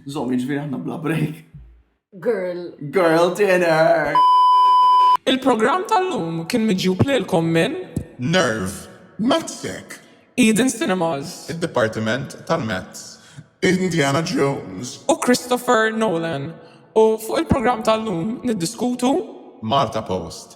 Zom, jiġifieri aħna bla break. Girl. Girl dinner! Il-programm tal-lum kien miġjub lilkom minn Nerve. Matzek. Eden Cinemas. Id-Dipartiment tal-Mezz. Indiana Jones. U Christopher Nolan. U fuq il-programm tal-lum niddiskutu Malta Post.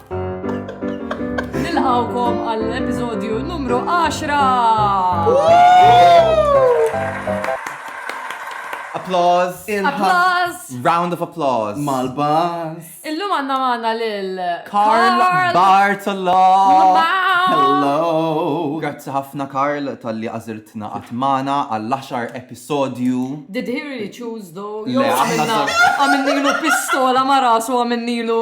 Nilqawkom għall-episodju numru 10! Applause! Applause! Round of applause! Mal-bas! Illum għanna maħna lil Carl Bartolo! Hello! Grazzi ħafna Carl tal-li għazirtna għatmana għall-10 episodju. Did he really choose though? Le, għamilnilu pistola ma rasu għamilnilu.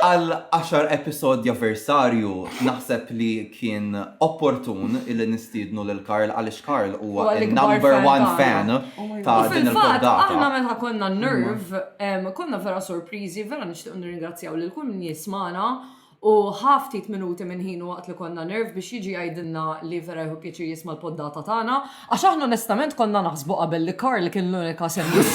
Għal 10 episodja versarju naħseb li kien opportun illi nistiednu lil Karl għaliex Karl huwa number one fan oh ta' din il-poddata. Aħna meta konna nerve, konna vera sorpriżi, vera nixtieq nirringrazzjaw lil kull min jismana U ħa ftit minuti minn ħinu waqt li konna nerve biex jiġi jgħidilna li vera jieħu pjaċir jisma' l-poddata tagħna, għax aħna onestament konna naħsbu qabel li Karl kien l-unika semmieħ.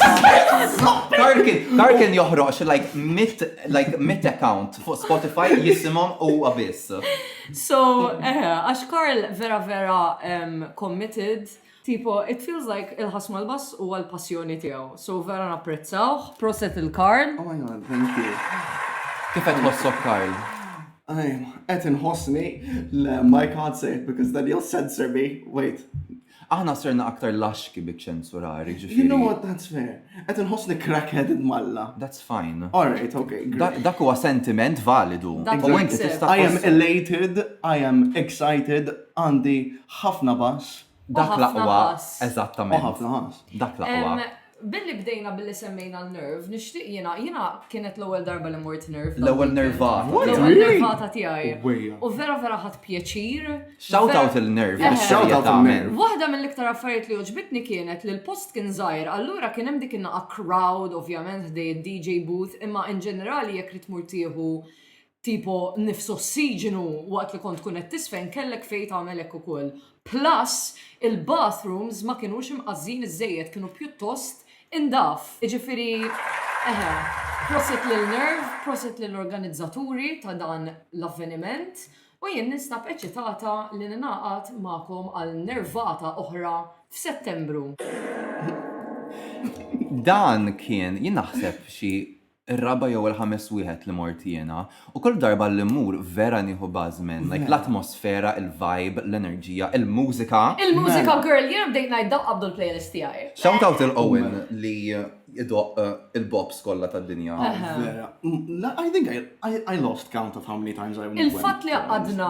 Karl kien, Karl kien joħroq xi like mitt, like mitt account fuq Spotify jisimhom huwa biss. So, eħe, għax Karl vera vera em, committed Tipo it feels like il-ħass mal-bass huwa l-passjoni tiegħu. So vera napprezzawh. Proset il Karl. Oh my god, thank you. Kif qed tħossok Karl? Qed inħossni le my can't say it because then you'll censor me. Wait. Aħna serna aktar laxki bi ċensurari ġifieri. You know what, that's fair. Qed inħossni crackheaded malla. That's fine. All right, okay. Dak huwa sentiment validu. Dak huwa I am elated, I am excited, Għandi ħafna bass. Dak l-aqwa, eżattament. U ħafna ħass. Dak l-aqwa. Billi bdejna billi semmejna l-nerve, nixtieq jiena, jiena kienet l-ewwel darba li mort nerve. L-ewwel nervata. L-ewwel nervata tiegħi. U vera vera ħadd pjaċir. Shout out il-nerve. Shout out il-nerve. Waħda mill-iktar affarijiet li għoġbitni kienet li l-post kien żgħir, allura kien hemm dik in-naqa' crowd, ovvjament, ħdej id-DJ booth, imma in ġenerali jekk trid tmur tieħu tipo nifs ossiġinu waqt li kont tkun qed tiżfen kellek fejn tagħmel hekk ukoll. Plus, il-bathrooms ma kinux imqażżin iżżejjed kienu pjuttost indaf. Jiġifieri eħe, prosit lil Nerv, prosit lill-organizzaturi ta' dan l-avveniment u jien ninstab eċitata li ningħaqad magħkom għal nervata oħra f'Settembru. Dan kien, jien naħseb xi ir-raba' jew il-ħames wieħed li mort jiena, u kull darba li mmur vera nieħu buzz minn, like, l-atmosfera, il-vibe, l-enerġija, il-mużika. Il-mużika girl, jiena bdejt ngħid dawk qabdu l-playlist tiegħi. Shout out lil Owen li jdoqq il-bops kollha tad-dinja. Vera. I think I lost count of how many times I went. Il-fatt li għaqadna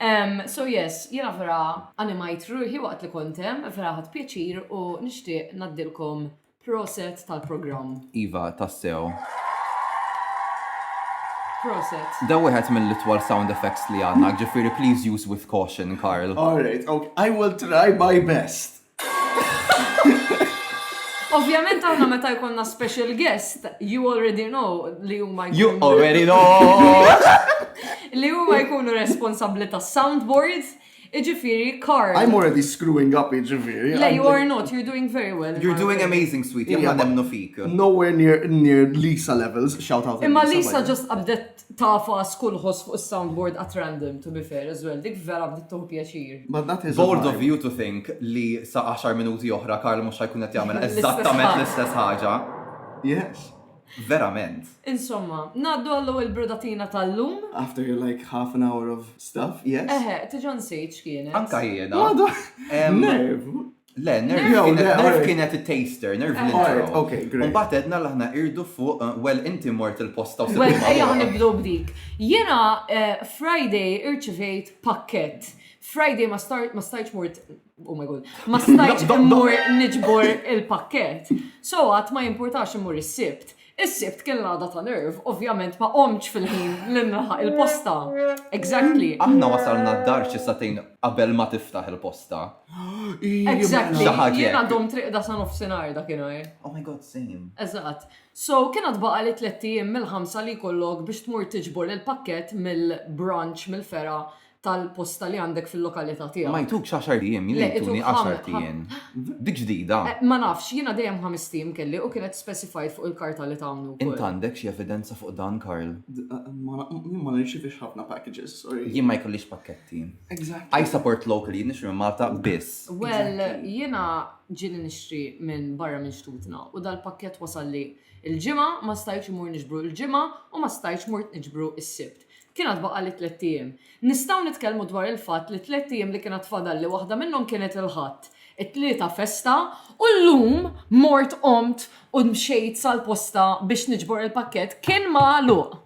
Um, so yes, jena vera animajt ruħi waqt li kontem, vera ħat pjaċir u nishtiq naddilkom proset tal-program. Iva, tassew. Proset. Da wieħed mill-itwal sound effects li għanna, ġifiri please use with caution, Karl. Alright, okay. I will try my best. Ovvjament għanna meta jkollna special guest, you already know li huma You already know! li huma jkunu responsabbli ta' soundboards, iġifieri Carl. I'm already screwing up iġifieri. Le, you are not, you're doing very well. You're doing amazing, sweetie, aħna nemnu fik. Nowhere near, near Lisa levels, shout out. Imma Lisa just qabdet Tagħfas kull ħoss fuq is-soundboard at random to be fair as well, dik vera bdiet tieħu pjaċir. But that is a Bold of vibe. you to think li sa għaxar minuti oħra Karl mhux ħa jkun qed jagħmel L-istess eżattament ħaġa. l-istess ħaġa. Yes. Verament. Insomma, ngħaddu għall-ewwel brudatina tal-lum. After your like half an hour of stuff, yes. Eħe, tiġa nsejt x'kienet. Anka jiena. Għadu. Em, Nerv. Le, nerv kienet il-taster, nerv l-intro. Ok, great. Mbagħad edna l aħna irdu fuq, eh, well, inti mort il-posta u Well, ejja nibdu b'dik. Jena eh, Friday irċivejt pakket. Friday ma stajċ mort, oh my god, ma stajċ mort nġbor il-pakket. So għat ma jimportax mort il-sibt. Is-Sibt kien l-għada ta' nerv, ovvjament ma qomtx fil-ħin li nlaħaq il-posta. Exactly. Aħna wasalna d-dar xi sagħtejn qabel ma tiftaħ il-posta. Exactly. Xi ħaġa Jiena hekk. domt riqda sa nofsinhar dakinhar. Oh my god, same. Eżatt. So, kien għad baqa' li tlett ijiem mill-ħamsa li jkollok biex tmur tiġbor il-pakkett mill-branch mill-fergħa tal-posta li għandek fil-lokalità tiegħek. Ma jtuk xaxar ijiem, jien jtuni għaxar ijiem. Dik ġdida. Eh, ma nafx, jiena dejjem ħames ijiem kelli u kienet specified fuq il-karta li tawni wkoll. Int għandek xi evidenza fuq dan, Karl? Eh, jien ma nirċivix ħafna packages, sorry. Jien ma jkollix pakketti. Exactly. I support locally, jien nixri minn Malta biss. Well, jiena ġieli nixri minn barra minn xtutna u dal-pakket wasalli il-ġimgħa ma stajċ imur nixbru il-ġimgħa u ma stajċ mort niġbru is-sibt. Kien għad baqali tlett ijiem. Nistgħu nitkellmu dwar il-fatt li tlett ijiem li kien għad fadalli waħda minnhom kienet il-Ħadd, it-Tlieta festa u llum mort qomt u mxejt sal-posta biex niġbor il-pakkett kien magħluq.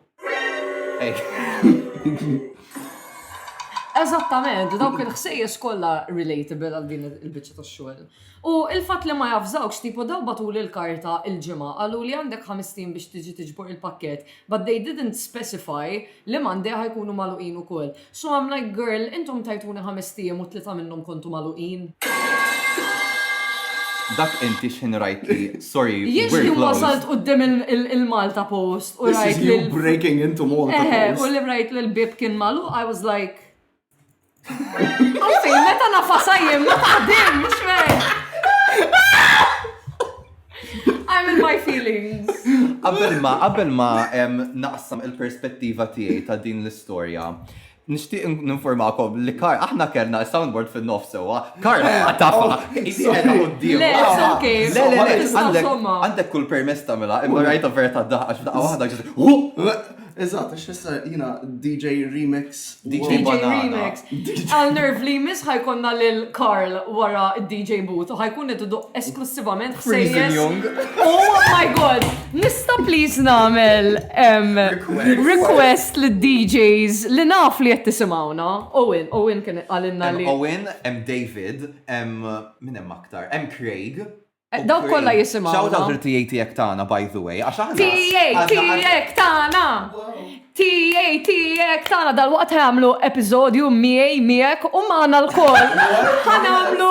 Eżattament, dawk il-ħsejjes kollha relatable għal din il-biċċa tax-xogħol. U il-fatt li ma javżawkx tipo daw bagħtuli l-karta il-Ġimgħa qaluli għandek ħamest ijiem biex tiġi tiġbor il-pakkett but they didn't specify li Monday ħa jkunu magħluqin ukoll. So I'm like girl intom tajtuni ħamest ijiem u tlieta minnhom kontu magħluqin. Dak inti x'ħin rajt li sorry Jien we're x'ħin wasalt closed. quddiem il- il-Malta Post u This is rajt you lil breaking into Malta Eħe, u Post. li rajt li l-bieb kien magħluq I was like Offi, meta nafasa jien ma taħdimx, man. I'm in my feelings. Qabel ma, qabel ma em, naqsam il-perspettiva tiegħi ta' din l-istorja. Nixtieq in- ninformakom li Kar, aħna kellna soundboard fin-nofs sewwa. Kar tafa, isi qed quddiem. Le, it's okay. Le, le, le, Tista' għandek- somma. għandek kull permess tagħmilha, imma rajta vera ta' daħqa xi daqqa waħda ġiet. Eżatt, għax issa jina DJ Remix. DJ Remix. Għal nerv li jmiss ħajkonna lil Karl wara DJ Boot u ħajkun qed iduq esklusivament Freezing Young. Oh my god! Nista please nagħmel request lid DJs li naf li qed tisimgħuna. Owen, Owen kien għalinna li. Owen, hemm David, hemm min hemm aktar, hemm Craig. Eh, Dawk kollha jisimgħu. Shout out il-TA tiegħek tagħna by the way, għax aħna. TA tiegħek tagħna. TA tiegħek tagħna dal-waqt ħamlu episodju miegħi miegħek u magħna l-koll. Ħanamlu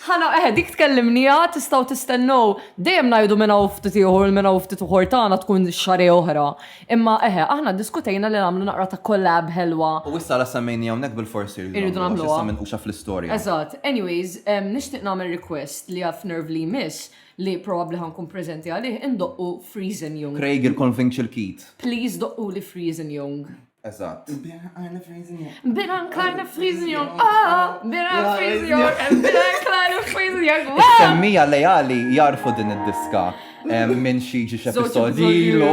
ħana eħe eh, dik tkellimnija tistgħu tistennew dejjem ngħidu minn hawn ftit ieħor minn hawn ftit uħor tagħna tkun xare oħra. Imma eħe, aħna ddiskutejna li nagħmlu naqra ta' collab ħelwa. U issa la semmejni hawnhekk bil-fors irridu nagħmluha. Irridu nagħmluha. Għax issa minquxa fl-istorja. Eżatt. Anyways, nixtieq nagħmel request li f'Nerv li jmiss, li probabbli ħa nkun preżenti għalih, indoqqu Freezin' Young. Craig il-Convinc il-Kid. Please doqquli Freezin' Young. Eżatt. Nbierha nqajna Freezin' Young. Nbierha nqajna Freezin' Young. Aah! Nbierha Freezin' Young. Nbierha nqajna Freezin' Young. Is-semmiegħa leali jagħrfu din id-diska. Minn xi ġi x'episodji ilu.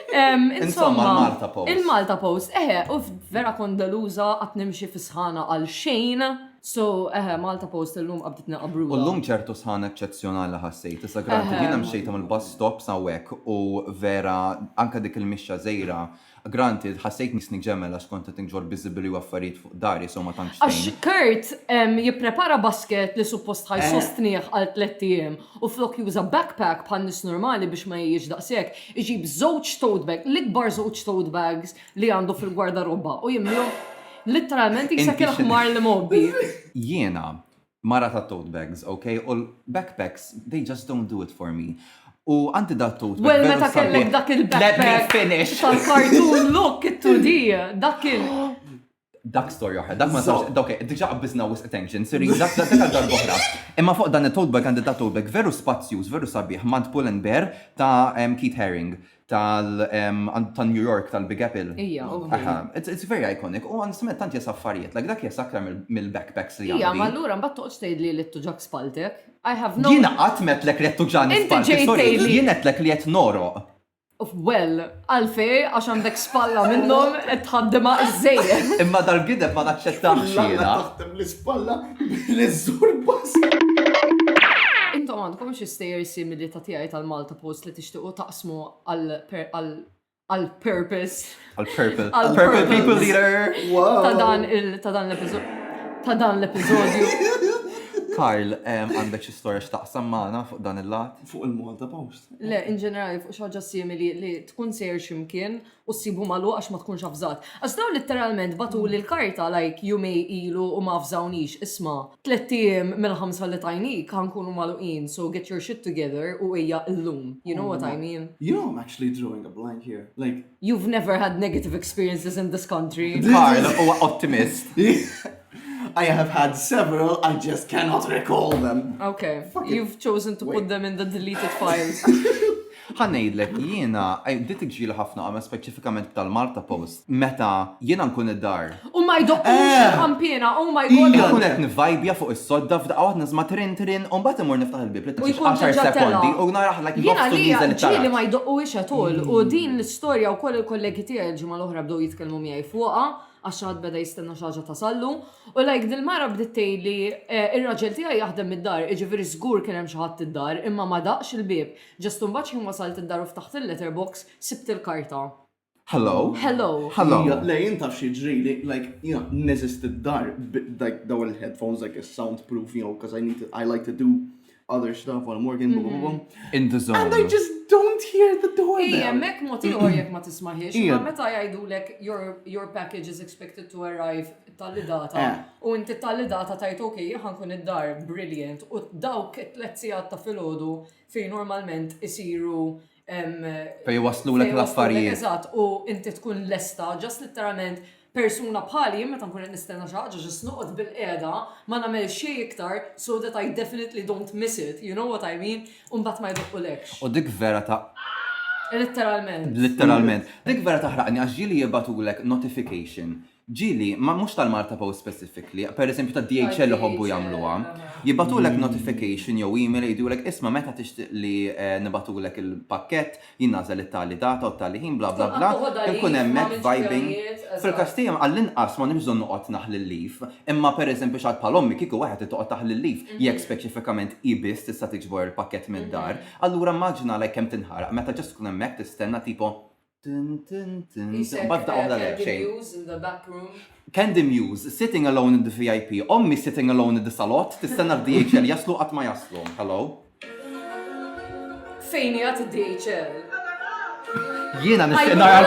Insomma, il-Malta Post. Il-Malta Post, eħe, u vera kondaluża għat nimxi fis-sħana għal xejn. So, eħe, Malta Post illum qabdet naqabru. U llum ċertu sħana eċċezzjonali ħassejt. Issa granti jiena mxejt mill-bus stop sawek u vera anka dik il-mixja żejra Granted, ħassejtni sneak ġemel għax kont qed inġorr biżibili u affarijiet fuq dari so ma tantx tgħin. Għax Kurt hemm jipprepara basket li suppost ħa jsostnih għal tlett ijiem u flok juża backpack bħal nies normali biex ma jgħix daqshekk, iġib żewġ tote bag, l-ikbar żewġ tote bags li għandu fil-gwardarobba u jimlihom literalment jisek il-ħmar li mgħobbi. Jiena, mara ta' tote bags ok u l backpacks they just don't do it for me u għandi da tote bag well meta kellek dak il backpack let me finish tal cartoon look it to di dak kien dak storja oħra, dak ma sabx, dak diġa qabbizna wis attention, siri, dak dak dak darba oħra. Imma fuq dan it-tote bag għandi ta' tote bag veru spazjuż, veru sabiħ, mant pull and bear ta' Keith Haring. tal tan New York tal-Big Apple. Ija, ovvju. Aha, it's it's very iconic. U onestament tant jesa affarijiet, like dak jesa aktar mill- mill-backpacks li għandi. Ija, ma allura mbagħad toqgħodx tgħidli li t-tuġak spaltek. I have no Jiena qatt m'għedtlek li qed tuġani Inti spallti, ġejt sorry. tgħidli- Jien għedtlek li qed nogħroq. Well, għalfej għax għandek spalla minnhom qed tħaddimha żżejjed. Imma dal-gideb ma naċċettahx L-għana jiena. taħdem l-ispalla li żżur bas. Intom għandkom xi stejjer simili ta' tiegħi tal-Malta Post li tixtiequ taqsmu għal purpose. Għal purple. Għal purple people leader. Ta' dan il ta' dan l-episodju. Ta' dan l-episodju. Karl, għandek xi storja x'taqsam magħna fuq dan il-lat? Fuq il-Malta Post. Le, in ġenerali fuq xi ħaġa simili li tkun sejr x'imkien u ssibhu magħluq għax ma tkunx avżat. Għax dawn litteralment bagħtuli l-karta like jumej ilu u ma avżawnix, isma', tlett ijiem mill-ħamsa li tajnik ħa nkunu magħluqin so get your shit together u ejja illum, you know what I mean? You know I'm actually drawing a blank here, like. You've never had negative experiences in this country. Karl huwa ottimist. I have had several, I just cannot recall them. Okay, you've chosen to put them in the deleted files. Ħa ngħidlek, jiena bdiet iġġieli ħafna għamja speċifikament b'tal-Malta Post meta jiena nkun id-dar. U ma jdoqqux il-ħampiena, oh my God! Ija! Inkun qed nivvajbja fuq is-sodda f'daqqa waħda nisma' trin trin u mbagħad immur niftaħ il-bieb li tgħaddix għaxar sekondi u nara ħla kif jgħoffsu nieżel it-tarazz. Jiena għalija ġġieli ma jdoqquhiex at all u din l-istorja wkoll il-kollegi tiegħi l-ġimgħa l-oħra bdew jitkellmu miegħi fuqha għax xi ħadd beda jistenna xi ħaġa tasallu u like dil-mara bdiet tgħidli, ir-raġel tiegħi jaħdem mid-dar, jiġifieri żgur kien hemm xi ħadd id-dar imma ma daqx il-bieb. Just imbagħad ħin wasalt id-dar u ftaħt il-letter box, sibt il-karta. Hello? Hello? Hello? Ija, le jien taf x'jiġrili, like, jiena neżist id-dar b, like, dawn il-headphones, like, is soundproof, you know, 'cause I need to, I like to do other stuff while I'm working, bum, bum, bum. In the zone. And I just don't hear the door Ija, bell. mek mod ieħor jekk ma tismaħiex, Ija. imma meta jgħidulek your, your package is expected to arrive tali data, Eh. u inti tali data tajt ok, ħankun id-dar, brilliant, u dawk it-tlet sigħat ta' filgħodu Fejn normalment isiru Fejn waslulek l-affarijiet. Eżatt, u inti tkun lesta, ġast literalment persuna bħali, meta nkun qed nistenna xi ħaġa ġast noqgħod bil-qiegħda, ma nagħmel xejn iktar so that I definitely don't miss it, you know what I mean? U mbagħad ma jdoqqulekx. U dik vera ta' Literalment. Literalment. Dik vera taħraqni għax ġieli jibatulek notification Ġieli, ma mhux tal-Malta Post specifically, per eżempju tad-DHL iħobbu jagħmluha. Jibgħatulek notification jew email jgħidulek isma' meta tixtieq li nibgħatulek il-pakkett, jien nagħżel it-tali data u t-tali ħin bla bla bla, inkun hemmhekk vibing. Fil-każ tiegħi għall-inqas m'għandix bżonn noqgħod naħli l-leaf, imma per eżempju x'għad bħal ommi kieku waħed irid toqgħod taħli l-leaf jekk speċifikament hi biss tista' tiġbor il-pakkett mid-dar, allura immaġina għalhekk kemm tinħaraq meta just tkun hemmhekk tistenna tipo Candy Muse, sitting alone in the VIP, ommi sitting alone in the salot, tistenna DHL jaslu qatt ma jaslu. Hello. Fejn jgħat DHL? Jiena nistenna għal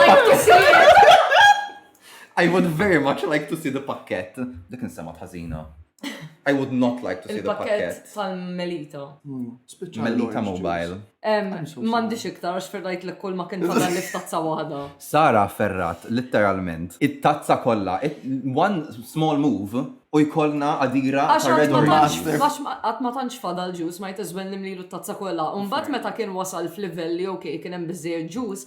I would very much like to see the pakket. Dik insema tħażina. I would not like to see the pakket. Il-pakket tal-melita. Hmm, melita mobile. Mandi xiktar, xferrajt l kull ma kien tagħna li tazza waħda. Sara ferrat, literalment, it-tazza kollha, one small move, u jkollna għadira ta' red orange. Għax għat ma tantx fadal ġus, ma jtizwen nimlilu t-tazza kollha. Umbat meta kien wasal f'livelli, ok, kien hemm biżżejjed ġus,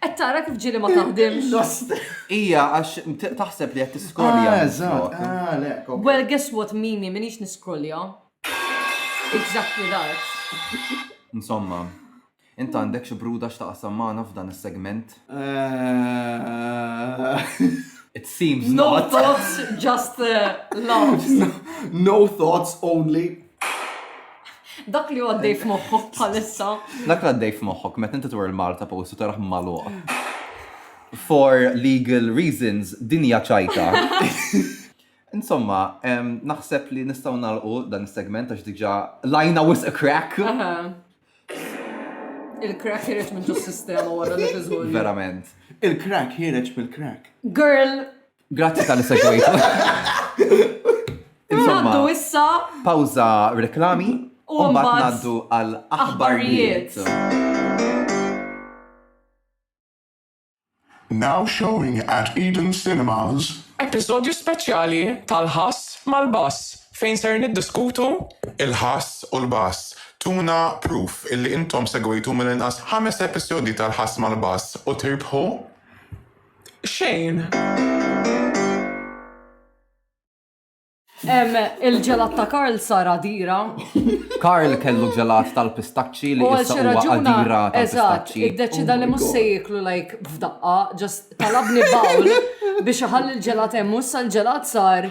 Qed tara kif ġieli ma taħdimx. Lost. Ija, għax t- taħseb li qed tiskrolja. Ah, eżatt. Ah, le. ok. Well, guess what, Mimi, minix niskrolja. Exactly that. Insomma, int għandek xi bruda x'taqsam magħna f'dan is-segment? Eh, It seems No not. thoughts, just uh, laughs. No thoughts only. Dak li għaddej f'moħħok bħalissa. Dak li għaddej f'moħħok, meta inti twar il-Malta post u taraħ maluq. For legal reasons, dinja ċajta. Insomma, naħseb li nistaw nalqu dan is-segment għax diġa lajna wis a crack. Il-crack jireċ minn ġus sistema wara li tiżgħu. Verament. Il-crack jireċ mill-crack. Girl, Grazzi tal segwejtu. Insomma, issa. Pawza reklami. U mbagħad ngħaddu għal aħbarijiet. Now showing at Eden Cinemas. Episodju speċjali tal-ħass mal-bass fejn ser niddiskutu il-ħass u l-bass. Tuna proof illi intom segwejtu mill-inqas ħames episodi tal-ħass mal-bass u tirbħu xejn. Il-ġelat ta' Karl sar għadira. Karl kellu ġelat tal-pistaċċi li issa huwa għadira tal-pistaċċi. Iddeċida li mhux se jieklu like f'daqqa, ġast talabni bawl biex iħalli l-ġelat hemm u issa l-ġelat sar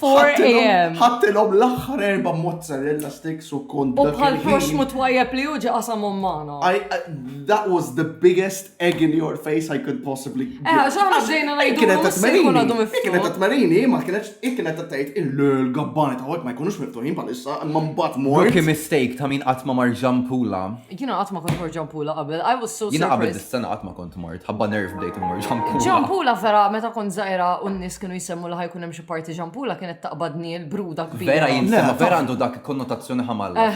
4am. Ħattilhom l-aħħar erba' mozzarella sticks u kont. U bħal proxmu twajjeb li uġi qasamhom magħna. That was the biggest egg in your face I could possibly. Eh, ġaħna ġejna ngħidu. Kienet tatmarini. Kienet tatmarini, ma kienet kienet tgħid il-gabbani ta' ma jkunux miftuħin bħalissa, imma mbagħad mor. Kien mistake ta' min qatt ma mar ġampula. Jiena qatt ma kont mor ġampula qabel. I was so Jiena qabel dis-sena qatt ma kont mort. Ħabba nerv bdejt mor ġampula. Ġampula vera meta kont żgħira u n-nies kienu jsemmu li ħajkun hemm parti ġampula kienet taqbadni l-bruda kbira. Vera jinsema, vera għandu dak konnotazzjoni ħamalla.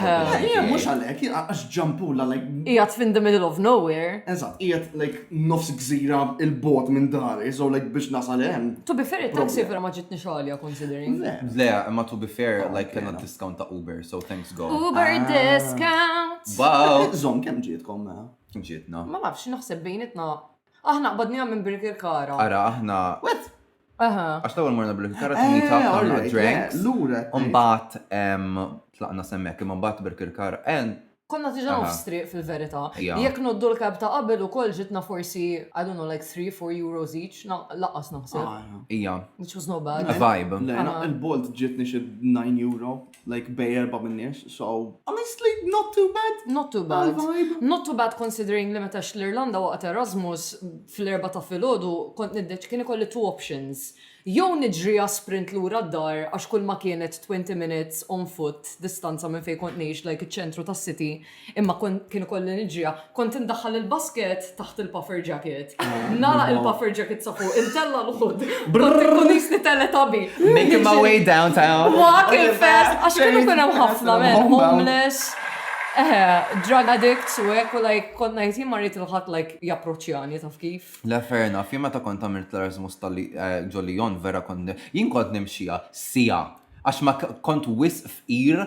Jien mhux għalhekk, għax ġampula like. Qiegħed fin the middle of nowhere. Eżatt, qiegħed like nofs gżira il-bot minn dari, so like biex nasal hemm. To be fair, it-taxi vera ma ġitni xogħolja considering. Le, imma to be fair, oh, like kena discount ta' Uber, so thanks God. Uber ah. discount. Wow. Zom, kemm ġietkom ma? Mela? Kemm ġietna? Ma nafx, naħseb bejnitna. Aħna qbadnija minn Birkirkara. Ara, aħna. Wet, Għax l-ewwel morna bil-kikara ta' meet up ta' drinks. Lura. Mbagħad tlaqna semmek imma mbagħad bil-kikara. Konna diġà nofs triq fil-verità. Jekk noddu l-cab ta' qabel ukoll ġitna forsi, I don't know, like three, four euros each, lanqas naħseb. Ija. Which was not bad. Vibe. Il-Bolt ġietni xi nine euro. Like bej erba' min-nies, so. Honestly, not too bad. Not too bad. Għall-vibe. Not too bad considering li meta għext l-Irlanda waqt Erasmus, fl-Erbgħa ta' filgħodu kont niddeċ, kien ikolli two options. Jew niġriha sprint lura d-dar għax kulma kienet twenty minutes on foot distanza minn fejn kont ngħix like iċ-ċentru tas-city, Imma kien ikolli niġriha. Kont indaħħal il-basket taħt il-puffer jacket. Nara il-puffer jacket sa fuq, intella l-ħud. Kont ikun jisni teletabi. Making my way downtown. Walking fast, għax kienu kun hemm ħafna men, homeless. Eħe, drug addicts u hekk u like konna jtim marrit il-ħadd like japproċċjani taf kif. La fair enough, jien meta kont għamilt l-Erasmus tal-ġollijon eh, vera kont jien kont nimxija sija għax ma kont wisq fqir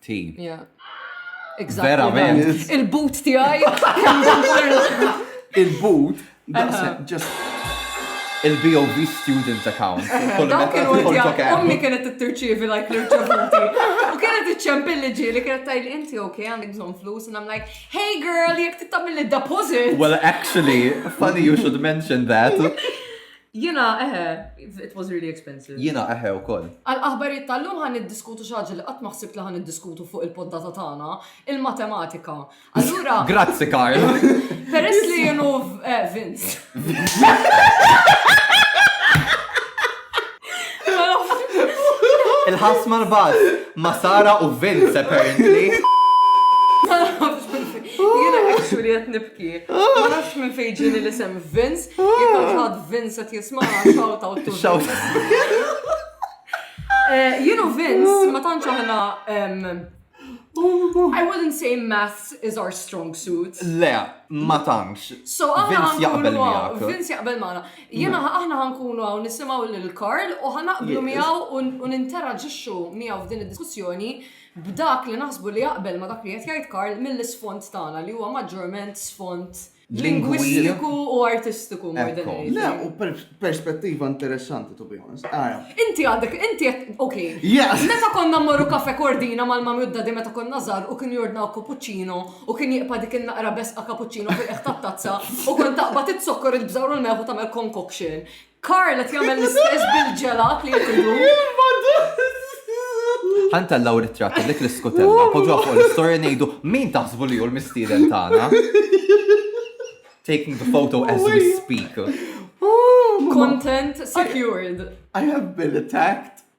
Team. Yeah. Verament. Il-boot tiegħi. Il-boot, just il-BOV student account. Dawn kienu għedja, ummi kienet t-tirċivi like l-irċevuti. U kienet t-ċempilli ġili, kienet tajli inti ok, għandek bżon flus, and I'm like, hey girl, jek t-tamil deposit Well, actually, funny you should mention that. Jina, eħe, it was really expensive. Jina, eħe, u koll. Għal-aħbarijiet tal-lum għan id-diskutu xaġa li għat maħsib li għan id-diskutu fuq il-poddata tagħna, il-matematika. Allura. Grazzi, Karl. Peress li jenu eh, Vince. Il-ħasma l-bad, ma Sara u Vince, apparently. Jena actually għet nibki. Ma nafx minn fejġini li sem Vince, jekk ħad Vince għet jisma' shout out to Shout. Eh, Jenu Vince, ma tantx aħna I wouldn't say maths is our strong suit. Le, ma tantx. So aħna Vince jaqbel miegħek. Vince jaqbel magħna. Jiena aħna ħankunu hawn nisimgħu lil Karl u ħanaqblu miegħu u ninteraġixxu miegħu f'din id-diskussjoni b'dak li naħsbu li jaqbel ma' dak li qed jgħid Karl mill-isfond tagħna li huwa maġġorment sfond lingwistiku u artistiku more than anything. Le, u perspettiva interessanti to be honest. Ara. Inti għandek, inti qed, ok. Meta konna mmorru kafe kordina mal-mami u d-dadi meta konna żgħar u kien jordnaw cappuccino u kien jiqpa' dik in-naqra besqa cappuccino fil-qeħ tat-tazza u kont taqbad it-zokkor il-bżawr u l-meħu tagħmel concoction. Karl qed jagħmel l-istess bil-ġelat li jridu. Ħanta l-law ritratt dik l-iskutella, poġġa fuq l-istorja ngħidu min taħsbu li hu l-mistieden tagħna. Taking the photo as we speak. Content secured. I have been attacked.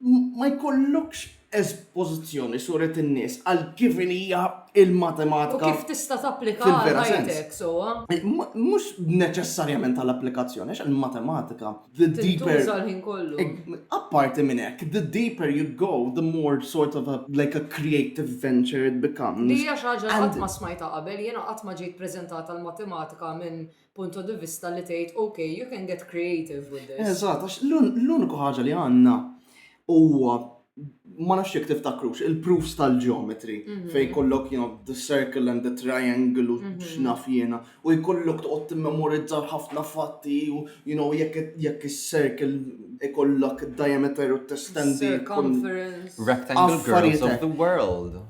ma jkollokx espożizzjoni suret in-nies għal kif inhi l-matematika. U kif tista' tapplika għal ħajtek sewwa. Mhux neċessarjament għal applikazzjoni għax il-matematika the deeper. Tintuża l-ħin kollu. Apparti minn hekk, the deeper you go, the more sort of like a creative venture it becomes. Din hija xi ħaġa li qatt ma smajtha qabel, jiena qatt ma ġejt preżentat għall-matematika minn punto di vista li tgħid, ok, you can get creative with this. Eżatt, għax l-uniku ħaġa li għandna huwa ma nafx jekk tiftakrux il-proofs tal-geometry mhm. fej kollok you know the circle and the triangle u mhm. x'naf jiena u jkollok toqgħod timmemorizza ħafna fatti u you know jekk jekk is-circle ikollok diameter u testendi circumference rectangle girls of the world.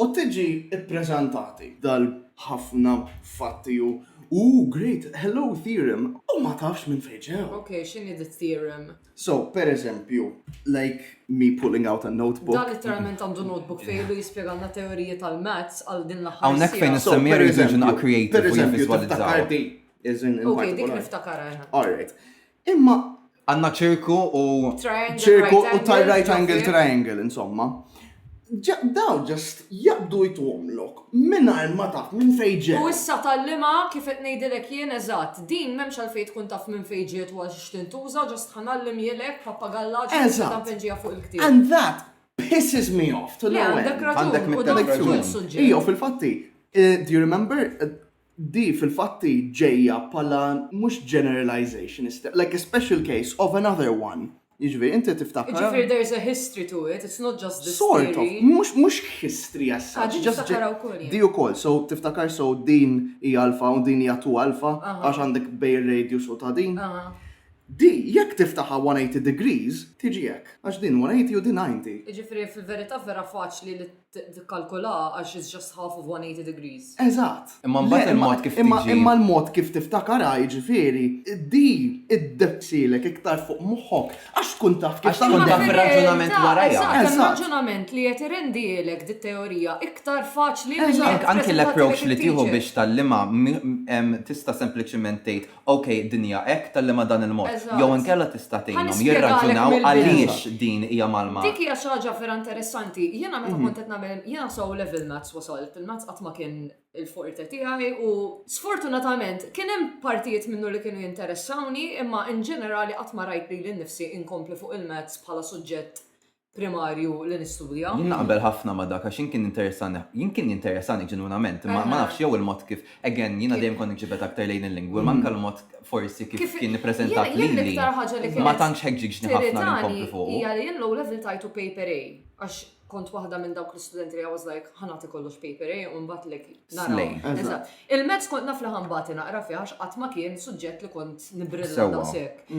U tiġi ppreżentati. Dal b'ħafna fatti u, ooh great, hello theorem, u ma tafx minn fejn ġew. Ok, x'inhi di theorem? So, per eżempju, like me pulling out a notebook. Dan litteralment għandu notebook fejn ilu jispjegalna teoriji tal-maths għal din l-aħħar siegħa. Hawnhekk fejn issemmi rridu nkunu creative u nivviżwalizzaw. All right. Imma għanna ċirku u ċirku u tal right angle triangle, insomma. Daw ġest jabdu jitwomlok minn ma taf minn fejġet. U issa tal-lima kif qed ngħidilek jien eżatt, din m'hemmx għalfejn tkun taf minn fejġet u għax tintuża ġest ħanallim jilek pappagalla ġesta penġija fuq il-ktieb. And that pisses me off. Le għandek raġun, għandek raġun. Ija fil-fatti, eh, do you remember eh, Di fil-fatt hi ġejja bħala mhux generalization is like a special case of another one. Jiġifieri inti tiftakar. Jiġifieri there is a history to it, it's not just this theory. Sort of, mhux mhux history as such. Ah, din niftakarha wkoll jien. Di wkoll, so tiftakar so din hi alfa u din hija 2 alfa għax għandek bejn ir-radius u ta' din. Di jekk tiftaħha 180 degrees tiġi hekk, għax din 180 u din 90. Jiġifieri fil-verità vera faċli li Tikkalkulaha għax it's just half of 180 degrees. Eżatt. Imma mbagħad il-mod kif tiġi. Imma l-mod kif tiftakarha, jiġifieri, di iddepsilek iktar fuq moħħok għax tkun taf kif taħdem. Għax tkun taf ir-raġunament warajha. Eżatt, hemm raġunament li qed irendielek dit-teorija iktar faċli milli. Anki l-approach li tieħu biex tgħallimha tista' sempliċiment tgħid Ok, d-dinja hekk tgħallimha dan il-mod. Jew inkella tista' tgħinhom jirraġunaw għaliex din hija mgħallma. Dik hija xi ħaġa vera interessanti. Jiena meta kont qed nagħmel, jiena s' O-Level Maths wasalt, il-Maths qatt ma kien il-forte tiegħi u sfortunatament kien hemm partijiet minnu li kienu jinteressawni imma in ġenerali qatt ma rajt lili nnifsi inkompli fuq il-Maths bħala suġġett primarju li nistudja. Jien naqbel ħafna ma' dak għax jien kien interessani, jien kien jinteressani ġenwinament, ma nafx jew il-mod kif, again, jiena dejjem kont niġibed aktar lejn il-lingwi, mm. manka l-mod forsi kif kien nippreżentat lili. Ma tantx ħeġġiġni ħafna li nkompli fuq. Hija li jien l-ewwel level tajtu paper A għax kont waħda minn dawk l-istudenti li I was like ħanati kollox paper A u mbagħad lek nara. Il-mezz kont naf li ħanbati naqra fih għax qatt ma kien suġġett li kont nibbrilla daqshekk.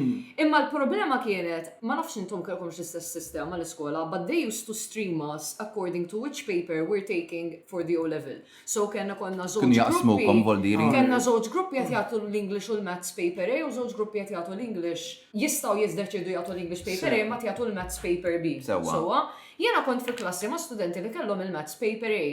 Imma l-problema kienet, ma nafx intom kellkomx l-istess sistema l-iskola, but they used to stream us according to which paper we're taking for the O-Level. So kellna konna żewġ gruppi, kellna żewġ gruppi qed jagħtu l-English u l-Maths paper A u żewġ gruppi qed jagħtu l-English. Jistgħu jiddeċiedu jagħtu l-English paper A imbagħad jagħtu l-Maths paper B. Sewwa. Jiena kont fi klassi ma' studenti li kellhom il-Maths paper A.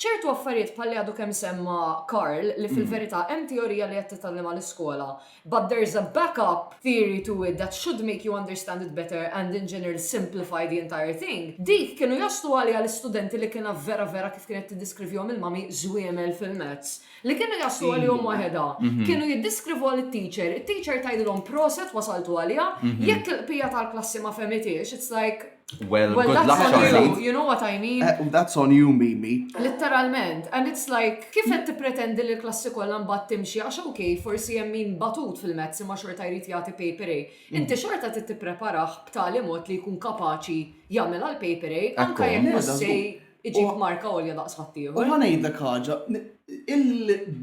Ċertu affarijiet bħal li għadu kemm semma Karl li fil-verità hemm teorija li qed titgħallem għall-iskola but there's a back up theory to it that should make you understand it better and in general simplify the entire thing, dik kienu jaslu għaliha l-istudenti li kienha vera vera kif kienet tiddiskrivihom il-mommy żwiemel fil-maths li kienu jaslu għalihom waħedha. Kienu jiddeskrivuha lit-teacher, it-teacher tgħidilhom proset wasaltu għaliha, jekk il-bqija tal-klassi ma fehmithiex it's like, Well, well good luck, Charlie. You know what I mean? Uh, that's on you, Mimi. Literalment. And it's like, kif qed tippretendi li l-klassi kollha mbagħad timxi għax ok, forsi hemm min batut fil-mezz imma xorta jrid jagħti paper A. Mm. Inti xorta trid tippreparah b'tali mod li jkun kapaċi jagħmel għal paper A, anke jekk Iġib marka għolja daqs ħaddieħor. U ħa ngħidlek ħaġa,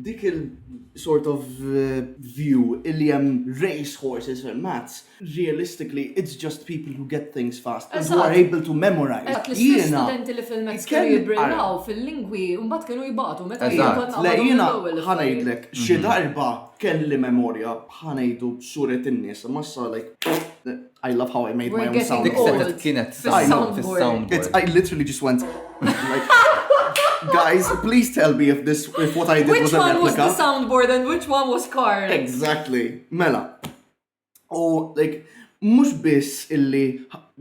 dik il-sort of eh, view li hemm race horses and mats, realistically it's just people who get things fast and who are able to memorize. Eżatt, l-istess studenti li fil-mezz kienu jibbrillaw fil-lingwi u mbagħad kienu jibatu meta Eżatt, le jiena ħa ngħidlek xi mhm. darba kelli memorja ħa ngħidu suret in-nies, massa like I love how I made my own sound. Dik setet kienet soundboard. It's I literally just went like Guys, please tell me if this if what I did which was a replica. Which one was the soundboard and which one was Carl? Exactly. Mela. Oh, like mhux biss illi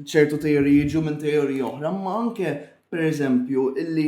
ċertu teoriji jiġu minn teoriji oħra, ma anke per eżempju illi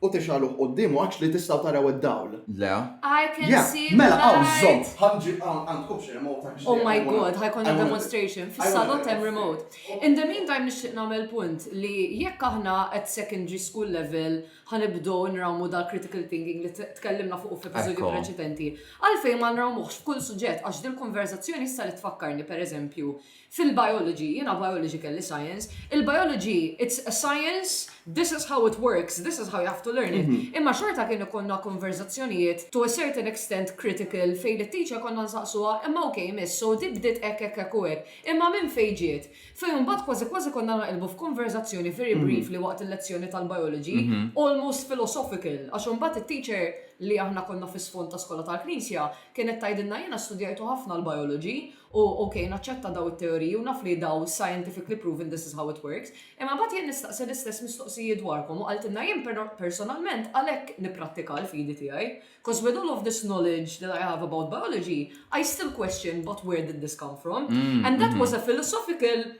U tixgħaluh quddiemu għax li tistgħu taraw id-dawl. Le. I can Yeah, see the mela hawn light. żomm, ħanġi hawn għandkom xi remote għax Oh my god, ħajkonna demonstration. Fis-salott hemm remote. In the meantime nixtieq nagħmel punt li jekk aħna at secondary school level ħanibdew nrawmu dal critical thinking li t- tkellimna fuq f'episodju Ekku. preċedenti, għalfejn ma nrawmuhx f'kull suġġett għax dil-konverżazzjoni issa li tfakkarni pereżempju Fil-biology, jiena biology kelli science, il-biology it's a science, this is how it works, this is how you have to learn it. Imma xorta kien ikollna konverżazzjonijiet to a certain extent critical fejn lit-teacher konna nsaqsuha imma ok miss so di bdiet hekk hekk hekk u hekk, imma minn fejn ġiet? Fejn imbagħad kważi kważi konna naqilbu f'konverżazzjoni very briefly waqt il-lezzjoni tal-biology, almost philosophical, għax imbagħad it-teacher li aħna konna fis-sfond ta' skola tal-Knisja kienet tgħidilna jiena studjajtu ħafna l-biology u ok naċċetta dawn it-teoriji u naf li dawn scientifically proven this is how it works, imma mbagħad jien nistaqsi l-istess mistoqsijiet dwarkom u qaltilna jien personalment għalhekk nipprattika l-fidi tiegħi, coz with all of this knowledge that I have about biology, I still question but where did this come from? And that was a philosophical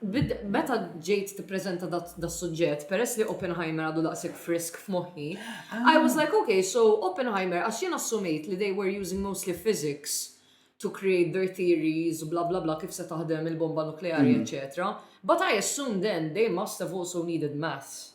Meta ġejt tippreżenta das-suġġett, peress li Oppenheimer għadu daqshekk frisk f'moħħi, I was like, ok, so Oppenheimer, għax jien assumejt li they were using mostly physics to create their theories, bla bla bla, kif se taħdem il-bomba nukleari, eċċetera, but I assumed then they must have also needed maths.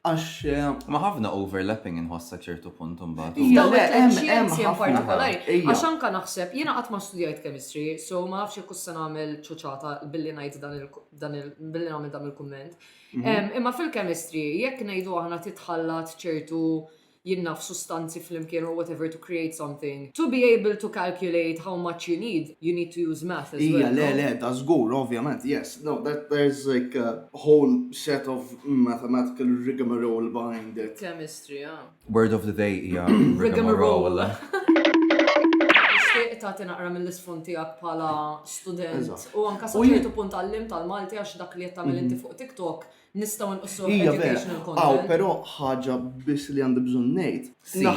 Għax eh, ma ħafna overlapping inħoss sa ċertu punt imbagħad. Iva, Jew le, it-tliet hemm- hemm xjenzi in ħafna. partikolari. Ija. Għax anka naħseb, jiena qatt ma studjajt chemistry, so ma nafx jekk se nagħmel ċuċata billi ngħid dan il- dan il- billi nagħmel dan il-kumment. Mhm. Em, Imma fil-chemistry, jekk ngħidu aħna titħallat ċertu jinnaf sustanzi flimkien or whatever to create something. To be able to calculate how much you need, you need to use math as well, no? Ija, le, le, da żgur, ovvjament, yes. No, that there is like a whole set of mathematical rigmarole behind it. Chemistry, ah. Word of the day hija rigmarole. Tixtieq tagħti naqra mill-isfond tiegħek bħala student u anke sa ċertu punt għallimt tal-Malti għax dak li qed tagħmel inti fuq TikTok Nistgħu nqissuh educational content. Iva vera, hawn però ħaġa biss li għandi bżonn ngħid.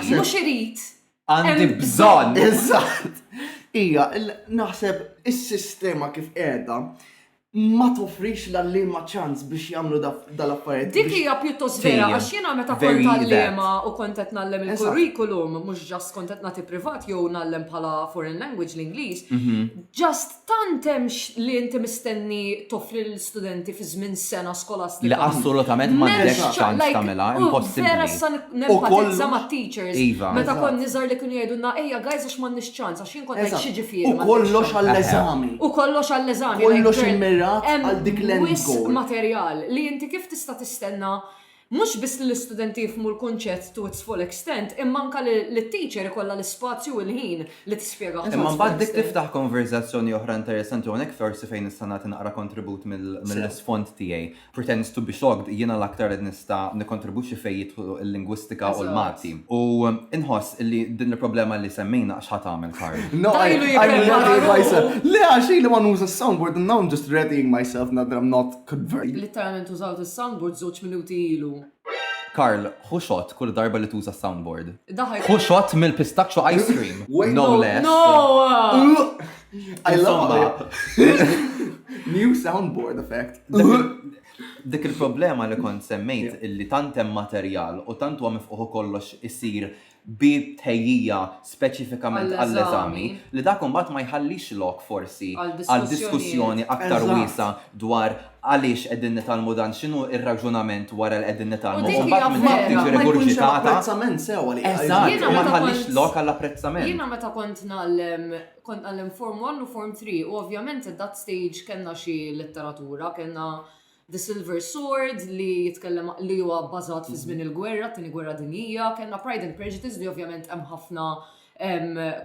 Mhux irid. Għandi bżonn. Eżatt. Hija, naħseb is-sistema kif qiegħda ma tofrix l-għalliema ċans biex jagħmlu dal-affarijiet. Dik hija pjuttost vera għax jiena meta kont għalliema u kont qed nagħllem il-curriculum mhux ġast kont qed nagħti privat jew nagħllem bħala foreign language l-Ingliż, mhm. ġast Tant hemm li inti mistenni toffri lill-istudenti fi żmien sena skolastika. Le assolutament m'għandekx ċans tagħmilha, impossibbli. Vera issa nenfatizza mat-teachers meta kont niżgħar li kienu jgħidulna ejja guys għax m'għandniex ċans għax jien kont ngħid xiġifieri m'għandekx ċans. U kollox għall-eżami. U kollox għall-eżami. Kollox immirat għal dik l-end goal. Hemm wisq materjal li inti kif tista' tistenna Mhux biss li l-istudenti jifhmu l-kunċett to its full extent imma anke li t-teacher ikollha l-ispazju u l-ħin li tispjegah to its full extent. Imma mbagħad dik tiftaħ konverżazzjoni oħra interessanti u hawnhekk forsi fejn nista' nagħti naqra kontribut mill-isfond tiegħi. Pretends to be shocked, jiena l-aktar qed nista' nikkontribwixxi fejn jidħlu l-lingwistika u l-Malti. U nħoss li din il-problema li semmejna x'ħa tagħmel Karl? No, I am readying myself. Le għax ili ma nuża s-soundboard and now I am just readying myself, nadra not. Kbir. Litteralment użawt is-soundboard żewġ minuti ilu. Karl, ħu shot kull darba li tuża s-soundboard. Daħal. Ħu shot mill-pistachio ice cream. Wait, No no, less. No! I love it. New soundboard effect. Dik il-problema li kont semmejt illi tant hemm materjal u tant huwa mifquħ u kollox isir bi tħejjija speċifikament għall-eżami, li dak imbagħad ma jħallix lok forsi għal diskussjoni aktar wiesgħa dwar għaliex qegħdin nitgħallmu dan, x'inhu r-raġunament wara li qegħdin nitgħallmu u mbagħad minflok tiġi rigurġitata. Eżatt, u ma jħallix lok għall-apprezzament. Jiena meta kont ngħallem, kont ngħallem Form One u Form Three u ovvjament at that stage kellna xi letteratura, kellna The Silver Sword li jitkellem li huwa bbażat fi żmien il-gwerra, tieni gwerra dinjija, kellna Pride and Prejudice li ovvjament hemm ħafna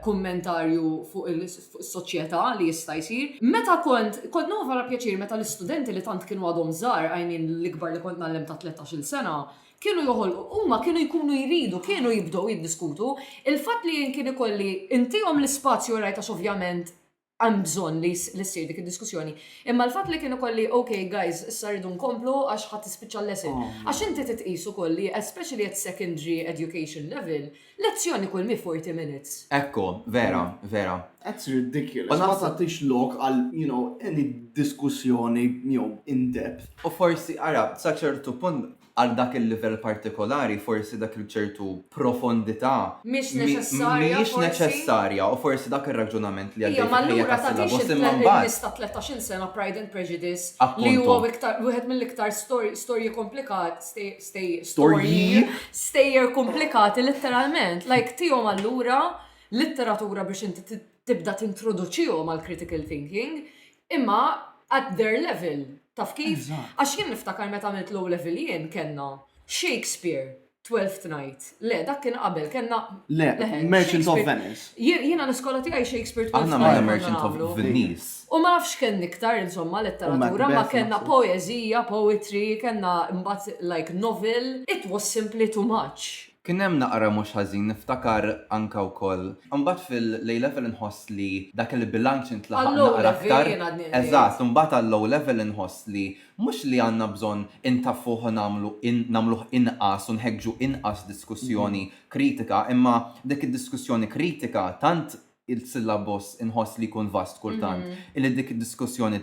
kummentarju fuq is-soċjetà li jista' jsir. Meta kont, kont nħu vera pjaċir meta l-istudenti li tant kienu għadhom żgħar, I mean l-ikbar li kont ngħallem ta' 13-il sena, kienu joħolqu, huma kienu jkunu jridu, kienu jibdew jiddiskutu. Il-fatt li jien kien ikolli ntihom l-ispazju rajt għax ovvjament hemm bżonn li ssir dik id-diskussjoni. Imma l-fatt li kien ikolli ok guys issa rridu nkomplu għax ħa tispiċċa l-lesson. Għax inti titqis ukoll li especially at secondary education level, lezzjoni kull mhi forty minutes. Ekku, vera, vera. That's ridiculous. Ma tagħtix lok għal, you know, any diskussjoni jew in depth. U forsi, ara, sa ċertu punt, għal dak il-livell partikolari, forsi dak il-ċertu profondità Mhix neċessarja, mhijiex forsi. neċessarja u forsi dak ir-raġunament li Hija għaddej ma fil-ħajja allura ta' tagħtix Syllabus il- imma mbagħad il-miss ta' tlettax-il sena Pride and Prejudice li Appuntu. huwa wiktar- wieħed mill-iktar stor- storji komplikat, stej- stej- Storji? storji, stejjer komplikati litteralment. Like tihom allura litteratura biex inti ti- tibda tintroduċihom għall-critical thinking Imma at their level, taf kif? Għax jien niftakar meta għamilt low level jien kellna Shakespeare, Twelfth Night. Le, dak kien qabel, kellna. Le, Merchant of Venice. Jiena l-iskola tiegħi Shakespeare Twelfth Night. Aħna Merchant of Venice. U ma nafx kellni iktar insomma letteratura, ma kellna poezija, poetry, kellna mbagħad like novel. It was simply too much. Kien hemm naqra mhux ħażin, niftakar anke wkoll. Imbagħad fil-A Level inħoss li dak il-bilanċ intlaħaq naqra aktar. Għall-O Level jien għadni qrib. Eżatt, imbagħad għall-O Level inħoss li mhux li għandna bżonn intaffuh u nagħmlu in, nagħmluh inqas u nħeġġu inqas diskussjoni kritika, imma dik id-diskussjoni kritika tant il-syllabus inħoss li jkun vast kultant, illi dik id-diskussjoni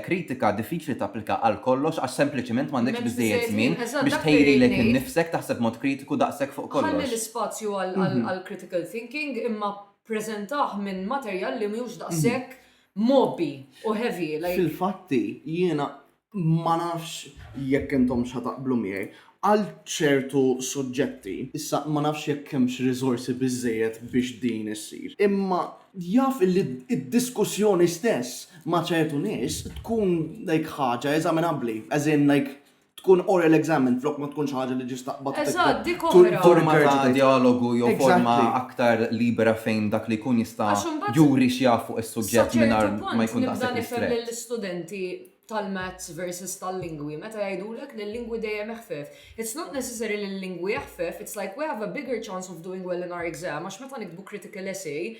kritika diffiċli tapplika għal kollox għax sempliċement m'għandekx biżżejjed żmien biex tħejrilek innifsek taħseb b'mod kritiku daqshekk fuq kollox. Ħalli l-ispazju għall-critical thinking imma ppreżentah minn materjal li mhux daqshekk mgħobbi u heavy like. Fil-fatti jiena ma nafx jekk intomx ħa taqblu miegħi, għal ċertu suġġetti, issa ma nafx jekk hemmx riżorsi biżżejjed biex din issir, imma jaf illi d-diskussjoni stess ma' ċertu nies tkun like ħaġa eżaminabbli, as in like tkun oral examined flok ma tkun xi ħaġa li ġist taqbad u titlob forma ta' djalogu jew forma aktar libera fejn dak li jkun jista' juri x'jaf fuq is-suġġett mingħajr ma jkun daqshekk ristrett. tal-maths versus tal-lingwi, meta jgħidulek li l-lingwi dejjem eħfef. It's not necessary li l-lingwi eħfef, it's like we have a bigger chance of doing well in our exam, għax meta nikbu critical essay,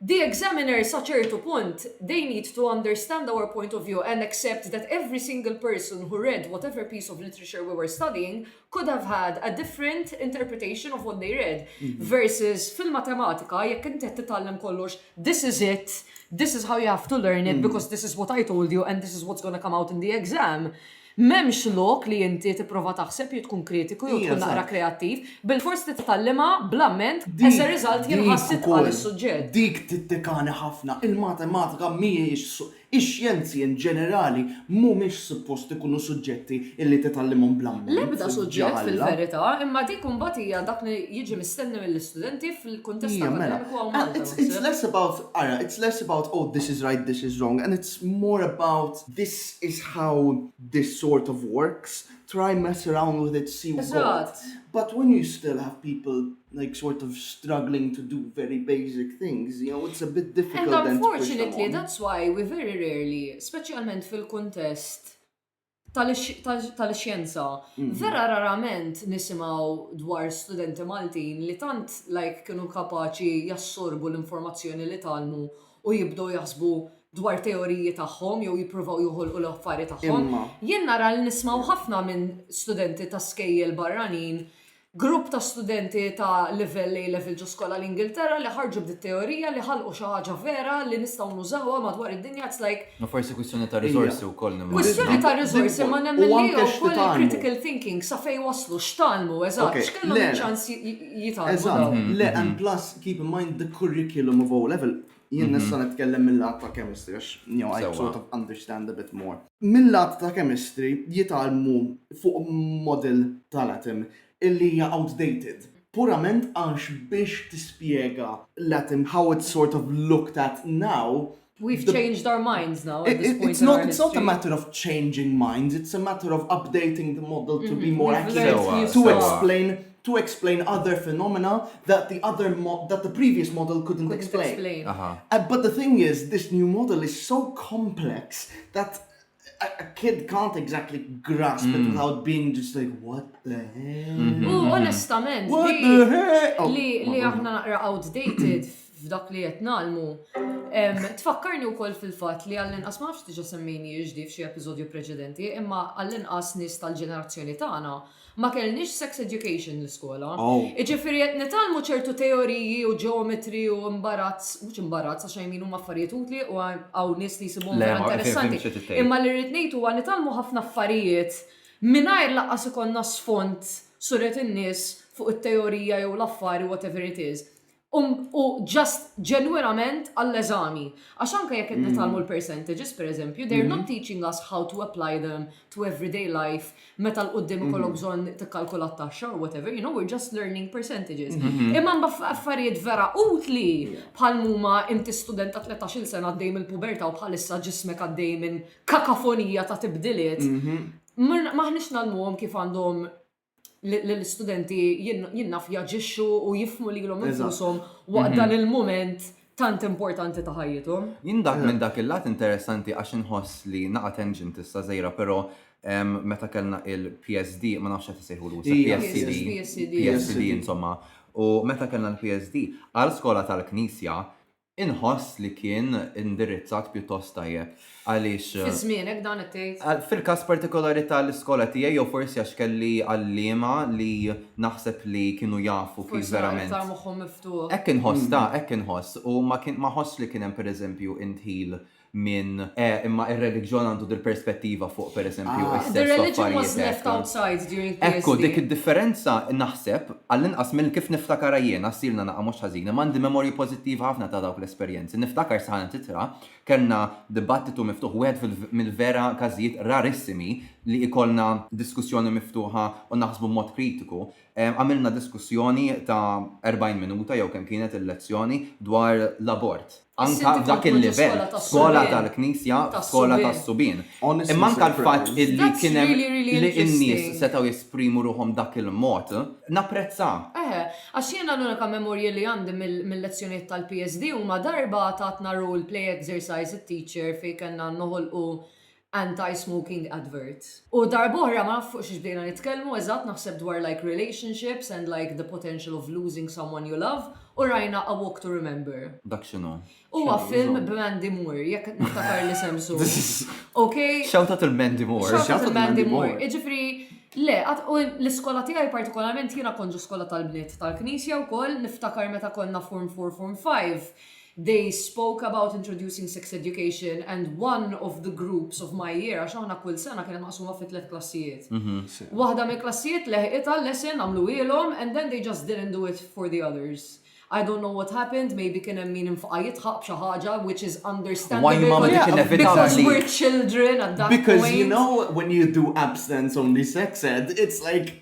the examiner sa ċertu punt, they need to understand our point of view and accept that every single person who read whatever piece of literature we were studying could have had a different interpretation of what they read. Mhm. Versus fil-matematika, jekk inti qed titgħallem kollox, this is it, this is how you have to learn it, mhm. because this is what I told you and this is what's going to come out in the exam. Memx lok li inti tipprova taħseb jew tkun kritiku jew tkun naqra kreattiv, bil-fors li titgħallima bl-amment as a result jien ħassit għal is-suġġett. Dik tittikani ħafna, il-matematika mhijiex Ix-xjenzi in ġenerali mhumiex suppost ikunu suġġetti illi titgħallimhom bl-ammont. L-ebda suġġett fil-verità, imma dik imbagħad hija dak li jiġi mistenni mill-istudenti fil-kuntest akkademiku hawn Malta, naħseb. Iva, mela. It's less about, ara, it's less about oh this is right, this is wrong and it's more about this is how this sort of works, try mess around with it, see u god. Eżatt. But when you still have people, like sort of struggling to do very basic things, you know, it's a bit difficult. And unfortunately, that's why we very rarely, specialment fil-kontest tal-xjenza, mhm. vera rarament nisimaw dwar studenti Maltin li tant like kienu kapaċi jassorbu l-informazzjoni li talmu u jibdow jaħsbu dwar teoriji tagħhom jew jippruvaw joħolqu l-affari tagħhom. Jien nara li nismaw ħafna minn studenti ta' skejjel barranin Grupp ta' studenti ta' livell A Level ġo skola l-Ingilterra li ħarġu b'di t-teorija li ħalqu xi ħaġa vera li nistgħu nużawha madwar id-dinja it's like. Ma forsi kwistjoni ta' riżorsi wkoll nimmaġina. Kwistjoni ta' riżorsi imma nemmen li hi wkoll il-critical thinking sa fejn waslu, x'tgħallmu eżatt, x'kellhom iċ-ċans jitgħallmu dawn. Eżatt, le and plus keep in mind the curriculum of O Level Jien mhm. nista' nitkellem mill-lat ta' chemistry, għax you know, I sort of understand a bit more. Mill-lat ta' chemistry jitalmu fuq model tal-atom illi hija outdated. Purament għax biex tispjega l-atom how it's sort of looked at now, We've the, changed our minds now. It, it, it's not. It's not a matter of changing minds. It's a matter of updating the model to mm -hmm. be mm-hmm. more accurate to explain to explain other phenomena that the other that the previous model couldn't explain. explain. Uh -huh. But the thing is, this new model is so complex that a, a kid can't exactly grasp mm. it hmm. without being just like, what the hell? Mm -hmm. U hmm. onestament, what li, the hell? Oh, li, li aħna naqra outdated f'dak li qed nagħlmu. Tfakkarni wkoll fil-fatt li għall-inqas ma nafx diġà semmejni jiġdi f'xi episodju preċedenti, imma għall-inqas nies tal-ġenerazzjoni tagħna Ma kellniex sex education l-iskola. Jiġifieri qed nitgħallmu ċertu teoriji u ġeometri u imbarazz, mhux imbarazz għax I mean huma affarijiet utli u hawn nies li jsibhom vera interessanti. Imma li rrid ngħid huwa nitgħallmu ħafna affarijiet mingħajr lanqas ikollna sfond surret in-nies fuq it-teorija jew l-affari whatever it is. Um, u just ġenwinament għall-eżami. Għax anka jekk qed mm. nitalmu l-percentages, per eżempju, they're not mm-hmm. teaching us how to apply them to everyday life meta l-qoddim mm-hmm. ikollok bżonn tikkalkula t-taxxa or whatever, you know, we're just learning percentages. Mm-hmm. Imma mba affarijiet vera utli bħal muma inti student ta' 13 sena għaddej mill-puberta u bħalissa ġismek għaddej minn kakafonija ta' tibdiliet. Maħniex nalmuhom kif għandhom l-istudenti jinnaf jaġixxu u jifmu li l-om infusom waqt dan il-moment tant importanti ta' ħajjithom. Jien dak minn dak il-lat interessanti għax inħoss li naqa' tenġin tista' żejra, però meta kellna il-PSD, ma nafx qed isejħu l PSD, PSD insomma, u meta kellna l-PSD, għal skola tal-Knisja, Inħoss li kien indirizzat pjuttost tajjeb għaliex. Fi żmienek dan qed tgħid? Fil-każ partikolari tal-iskola tiegħi jew forsi għax kelli għalliema li naħseb li kienu jafu kif verament. Forsi għax aktar moħħhom miftuħ. Hekk inħoss ta, hekk inħoss u ma ħosstx li kien hemm pereżempju indħil minn, eh, imma ir-reliġjon għandu dil-perspettiva fuq, per eżempju, Ah, the religion was left outside during PSD. Ekku, dik id-differenza, naħseb, għall-inqas minn kif niftakarha jiena, ssirna naqgħa mhux ħażin, imma għandi memorji pożittivi ħafna ta' dawk l-esperjenzi. Niftakar saħansitra kellna dibattitu miftuħ, wieħed fil, mill-vera każijiet rarissimi li jkollna diskussjoni miftuħa u naħsbu b'mod kritiku, Għamilna diskussjoni ta' erbgħin minuta jew kemm kienet il-lezzjoni dwar l-abort. Anke f'dak il-livell, skola tal-Knisja, skola tas-subien. Imma anke l-fatt illi kien hemm li n-nies setgħu jesprimu ruħhom b'dak il-mod, napprezzah. Eħe, għax jiena l-unika memorji li għandi mill-lezzjonijiet tal-PSD huma darba tatna role play exercise it-teacher fejn kellna noħolqu anti-smoking advert. U darb'oħra ma naf fuq xiex bdejna nitkellmu eżatt naħseb dwar like relationships and like the potential of losing someone you love u rajna A walk to remember. Dak x'inhu? Huwa film b'Mandy Moore jekk niftakar l-isem sew. Ok? Shout out il Mandy Moore. Shout out il Mandy Moore. Jiġifieri le, u l-iskola tiegħi partikolarment jiena kont ġo skola tal-bniet tal-Knisja wkoll niftakar meta konna form four form five They spoke about introducing sex education and one of the groups of my year, għax aħna kull sena kienet maqsuma fi tliet klassijiet. Waħda mill-klassijiet leħqitha l-lesson għamluhielhom and then they just didn't do it for the others. I don't know what happened, maybe kien hemm min infqaha jidħaq b'xi ħaġa which is understandable because we're children at that point. Because you know when you do abstinence only sex ed, it's like,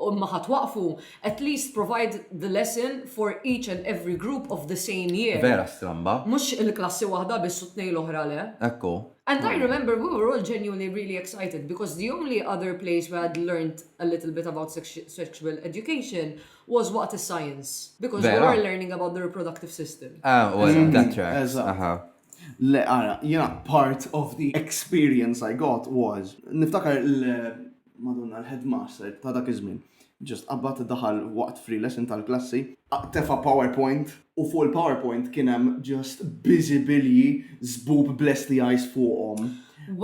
Imma ħa twaqqfu, at least provide the lesson for each and every group of the same year. Vera stramba. Mhux il-klassi waħda biss u t-tnejn l-oħra le. Hekk hu. And I remember we were all genuinely really excited because the only other place we had learnt a little bit about sexual education was waqt is-science because we were learning about the reproductive system. Ah, u għal that track. Eżatt. Le, ara, jiena part of the experience I got was, niftakar Madonna l-headmaster ta' dak iż-żmien just qabad daħal waqt free lesson tal-klassi, tefa' powerpoint u fuq il-powerpoint kien hemm just biżibilji żbub bl-STIs fuqhom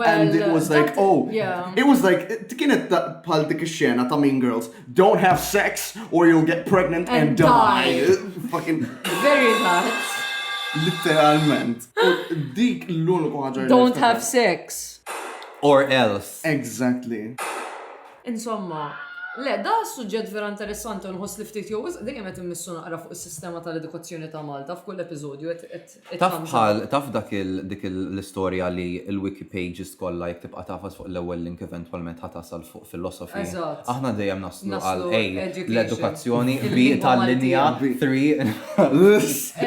and it was like oh it was like kienet bħal dik ix-xena ta' Mean Girls don't have sex or you'll get pregnant and die. Fucking very much. Literalment. Dik l-uniku ħaġa. Don't have sex. Or else. Exactly. Insomma, le, da suġġett vera interessanti u nħoss li ftit jew wisq dejjem qed immissu naqra fuq is-sistema tal-edukazzjoni ta' Malta f'kull episodju qed qed it Taf thumbs up. bħal, taf dak il, dik il, l-istorja li l-wiki pages kollha jekk tibqa' tagħfas fuq l-ewwel link eventwalment ħa tasal fuq philosophy. Eżatt. Aħna dejjem naslu Naslu għal A, education. l-edukazzjoni, B, Il-lingwa tal-linja, Maltija. 3,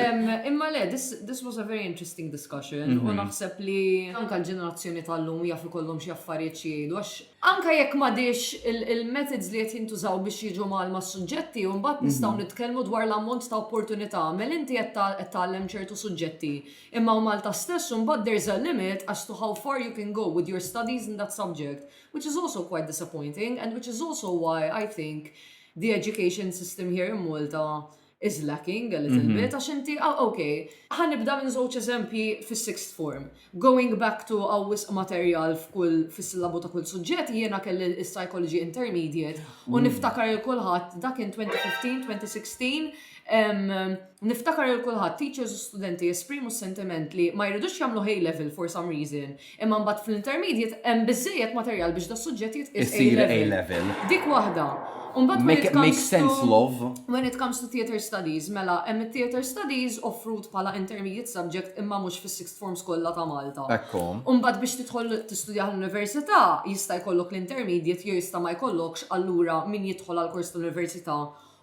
Em, Imma le, this this was a very interesting interesting discussion u naħseb li anke l-ġenerazzjoni tal-lum jaf ikollhom xi affarijiet xi jgħidu għax anke jekk m'għadhiex il-methods li qed jintużaw biex jiġu mgħallma s-suġġetti u mbagħad nistgħu nitkellmu dwar l-ammont ta' opportunità. Mela inti qed tgħallem ċertu suġġetti. Imma Malta stess mbagħad there is a limit as to how far you can go with your studies in that subject which is also quite disappointing and which is also why I think the education system here in Malta is lacking a little Mhm. bit, għax inti, ah, ok, ħanibda minn żewġ eżempji fis-sixth form. Going back to għaw wisq materjal f'kull fis-sillabu ta' kull suġġett, jiena kelli l-psychology intermediate u Mm. niftakar il kulħadd dak kien 2015, 2016, em, niftakar il kulħadd teachers u studenti jesprimu s-sentiment li ma jridux jagħmlu high level for some reason, Imma mbagħad fl-intermediate hemm biżżejjed materjal biex das-suġġett jitqies A-level. Dik waħda. U mbagħad when it comes to when it comes to theatre studies, mela hemm it-theatre studies offrut bħala intermediate subject imma mhux fis-sixth forms kollha ta' Malta. Ekku. U mbagħad biex tidħol tistudjah l-università jista' jkollok l-intermediate jew jista' ma jkollokx allura min jidħol għall-kors tal-università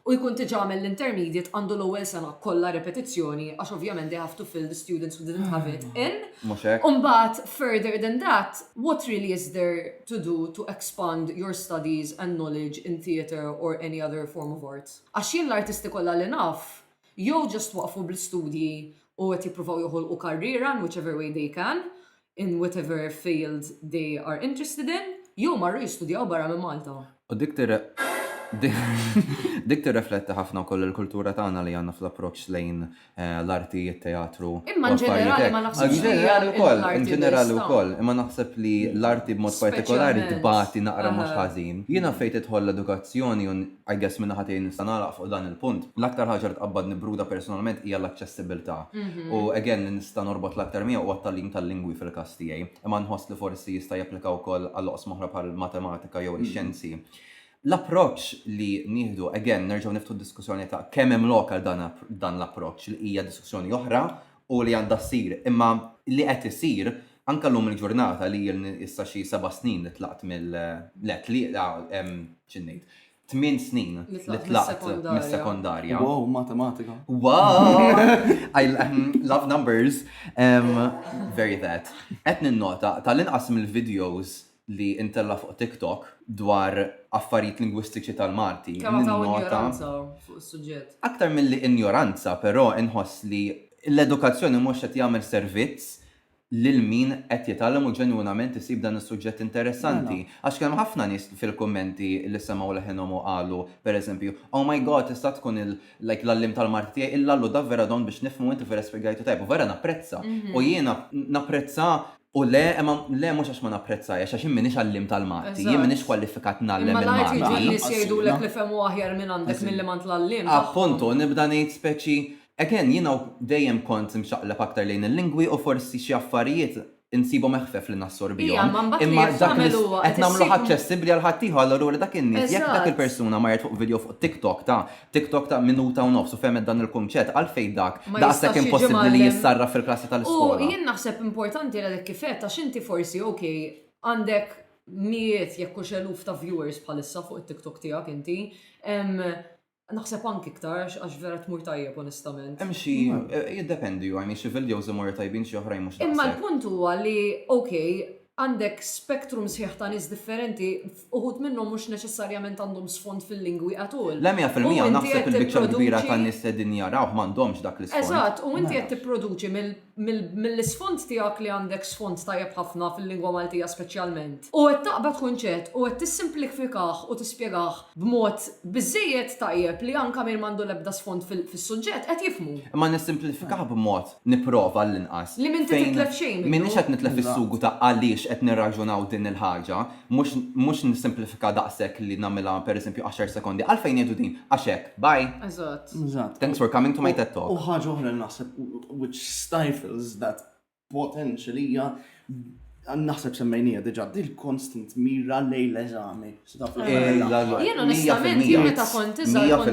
u jkun diġa għamel l-intermediate għandu l-ewwel sena kollha repetizzjoni għax ovvjament they have to fill the students who didn't have it in. Mhux hekk. U mbagħad further than that, what really is there to do to expand your studies and knowledge in theatre or any other form of arts? Għax jien l-artisti kollha li naf jew just waqfu bl-istudji u qed jippruvaw joħolqu karriera in whichever way they can, in whatever field they are interested in, jew marru jistudjaw barra minn Malta. U dik Dik tirrefletti ħafna wkoll il-kultura tagħna li għandna fl-approċċ lejn eh, l-arti, it-teatru. Imma ġenerali ma naħsibx ġenerali wkoll, ġenerali wkoll, imma naħseb li l-arti b'mod partikolari tbati naqra mhux ħażin. Jiena fejn tidħol l-edukazzjoni I guess min-naħa tiegħi nista' nagħlaq fuq dan il-punt. L-aktar ħaġa li tqabbadni Bruda personalment hija l-aċċessibbiltà. U again li nista' norbot l-aktar miegħu huwa t-tagħlim tal-lingwi fil-każ tiegħi. Imma nħoss li forsi jista' japplika wkoll għal oqsma oħra bħall-matematika jew ix-xjenzi. L-approċċ li nieħdu, again nerġgħu niftħu d-diskussjoni ta' kemm hemm lok għal dan l-approċċ li hija diskussjoni oħra u li għandha ssir, imma li qed isir anke llum il-ġurnata li ilni issa xi seba' snin li tlaqt mill le tlieta xi ngħid tmien snin li tlaqt mis-sekondarja. Wow, matematika. Wow! I love numbers. Um, very that. Qed ninnota tal-inqas mill-videos li ntella' fuq TikTok dwar affarijiet lingwistiċi tal-Malti. Kemm hawn ta' injoranza fuq is-suġġett. Aktar milli injoranza però inħoss li l-edukazzjoni mhux qed jagħmel servizz lil min qed jitgħallem u ġenwinament isib dan is-suġġett interessanti. Għax kien hemm ħafna nies fil-kummenti li semgħu leħinhom u qalu, per eżempju, Oh my God, tista' tkun il, like, l-għalliem tal-Malti tiegħi, il-Lallu, davvera don biex nifhmu inti vera spjegajtu tajjeb u vera napprezza. U jiena napprezza U le, imma le mhux għax ma napprezzahiex, għax jien m'iniex għalliem tal-Malti, jien m'iniex kwalifikat ngħallem il-Malti. Imma l-arti ġieli nies jgħidulek li fehmu aħjar minn għandek milli m'għand l-għalliem tagħhom. Appuntu, nibda ngħid speċi, again, jiena dejjem kont imxaqleb aktar lejn il-lingwi u forsi xi affarijiet insibhom eħfef li nassorbihom, imma dak li qed nagħmluh aċċessibbli għal ħaddieħor, allura dak in-nies, jekk dak il-persuna marret fuq video fuq TikTok ta' TikTok ta' minuta u nofs u fehmet dan il-kunċett, għalfejn dak Ma jistax daqshekk jiġi impossibbli li mgħallem. jissarraf fil-klassi U tal-iskola? jien naħseb importanti għalhekk kif għedt għax inti forsi ok għandek mijiet jekk hux eluf ta' viewers bħalissa fuq it-TikTok tiegħek inti. Em, Naħseb anki iktar għax għax vera tmur tajjeb onestament. Hemm xi eh, jiddependi, u għajni xi videos imorru tajbin xi oħrajn mhux Imma daqshekk. l-punt huwa li ok, Għandek spektrum sħiħ ta' nies differenti, uħud minnhom mhux neċessarjament għandhom sfond fil-lingwi at all. Le mija fil-mija, naħseb il-biċċa l-kbira tan-nies li qegħdin jarawh m'għandhomx dak l-isfond. Eżatt, u inti qed tipproduċi mill-isfond tiegħek li għandek sfond tajjeb ħafna fil-lingwa Maltija speċjalment, u qed taqbad kunċett u qed tissimplifikah u tispjegah b'mod biżżejjed tajjeb li anke min m'għandu l-ebda sfond fis-suġġett qed jifhmu. Imma nissimplifikah b'mod nipprova għall-inqas, fejn m'iniex qed nitlef is-sugu ta' għaliex qed nirraġunaw din il-ħaġa, mhux nissimplifika daqshekk li nagħmilha pereżempju għaxar sekondi, għalfejn ngħidu din, għax hekk, bye! Eżatt. Thanks for coming to my ted talk. U ħaġa oħra li naħseb which stifles that potential hija, naħseb semmejniha diġà, din il-constant mira lejn l-eżami. Jien onestament, jien meta kont iżgħar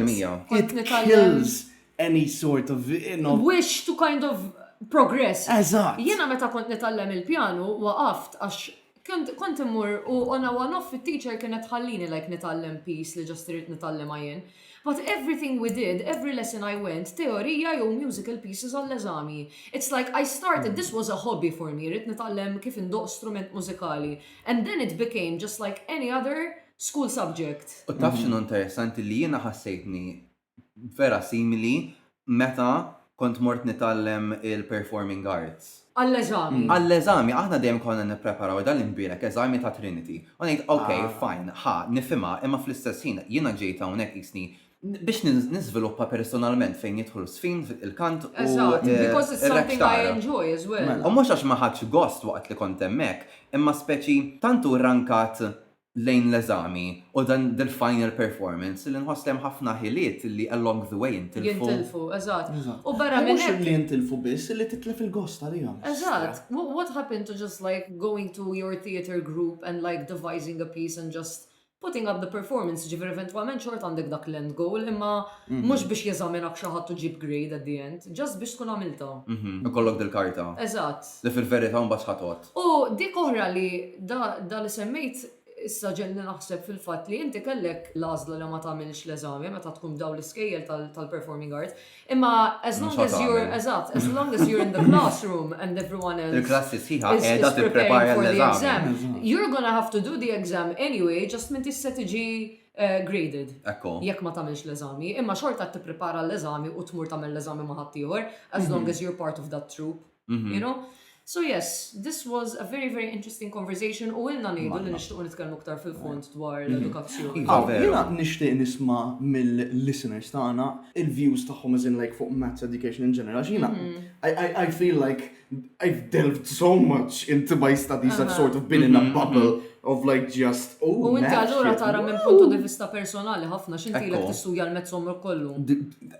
kont nitgħallem. It kills any sort of, you know. Wish to kind of progress. Eżatt. Jiena meta kont nitgħallem il-pjanu waqaft għax kont immur u on a one off it-teacher kienet ħallini like nitgħallem piece li ġast irid nitgħallem jien. But everything we did, every lesson I went, teorija jew musical pieces għall-eżami. It's like I started, this was a hobby for me, rrit nitgħallem kif indoq strument mużikali. And then it became just like any other school subject. U taf xinu interessanti li jiena ħassejtni vera simili meta kont mort nitgħallem il-performing arts. Għall-eżami. Għall-eżami, aħna dejjem konna nippreparaw dan l-imbielek eżami ta' Trinity. U ngħid, ok, fine, ħa, nifhimha, imma fl-istess ħin jiena ġejt hawnhekk qisni biex niżviluppa personalment fejn jidħlu s-sfin, il-kant u r-rectar. U mhux għax ma ħadtx gost waqt li kont hemmhekk, imma speċi tant hu rrankat lejn l-eżami u dan dil-final performance li nħoss li hemm ħafna ħiliet li along the way jintilfu. Jintilfu, eżatt. U barra minn hekk. Mhux li jintilfu biss, illi titlef il-gost għalihom. Eżatt. What happened to just like going to your theatre group and like devising a piece and just putting up the performance, ġifir eventualment xort għandek dak l-end goal, imma mhm. mux biex jeżaminak xaħat ġib grade at the end, just biex tkun għamilta. Mhm. Kollok del-karta. Eżatt. li fil-verità mbagħad ħa tgħodd. U dik oħra li da li semmejt issa ġegħelni naħseb fil-fatt li inti kellek l-għażla li ma tagħmilx l-eżami meta tkun f'dawn l-iskejjel tal-performing arts, imma as long as you're eżatt, as long as you're in the classroom and everyone else Il-klassi sħiħa qiegħda tipprepara l-eżami. You're gonna have to do the exam anyway, just m'intix se tiġi graded jekk ma tagħmilx l-eżami, imma xorta qed tipprepara l-eżami u tmur tagħmel l-eżami ma' ħaddieħor as long as you're part of that troupe. Mhm. You know? So yes, this was a very very interesting conversation u ilna ngħidu li Manna. nixtiequ nitkellmu aktar fil-fond dwar Mhm. l-edukazzjoni. Iva, Aw, veru. Jiena nixtieq nisma' mill-listeners tagħna il-views tagħhom as in like fuq maths education in general. X'jiena Mhm. I, I, I feel like I've delved so much into my studies. I've Aha. sort of been in a Mhm, bubble of like just oh. U inti maths, allura shit, tara minn woo. punto di vista personali ħafna x'intilek Ekku. tistudja l-mezz omrok kollu. D- d-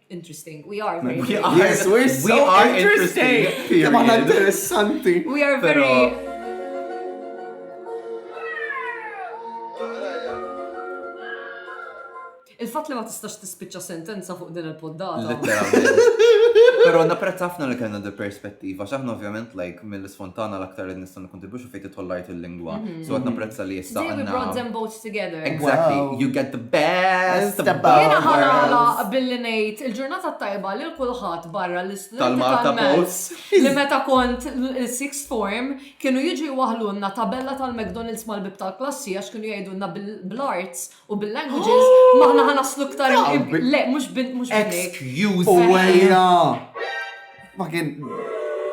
interesting. We are very we are, yes, we're so we are interesting. interesting. We are very Pero... Il-fat li ma tistax tispiċċa sentenza fuq din il-poddata. Pero napprezz ħafna li kellna di perspettiva, x'aħna ovvjament like mill-isfontana l-aktar li nistgħu kontribution fejn titħol l-art il-lingwa. Mhm. So għatna prezza li jissa. We brought them both together. Exactly. Wow. You get the best. Jena ħanala billi nejt il-ġurnata tajba li l-kulħat barra l-istudenti tal-Malta Post. Li meta kont il-sixth form kienu jiġu jwahlunna tabella tal-McDonald's mal-bib tal-klassi għax kienu jgħidunna bil-arts U bil-languages, maħna ħa naslu ktar Le, mux bin, mux bin. Excuse Uwejja! Ma kien.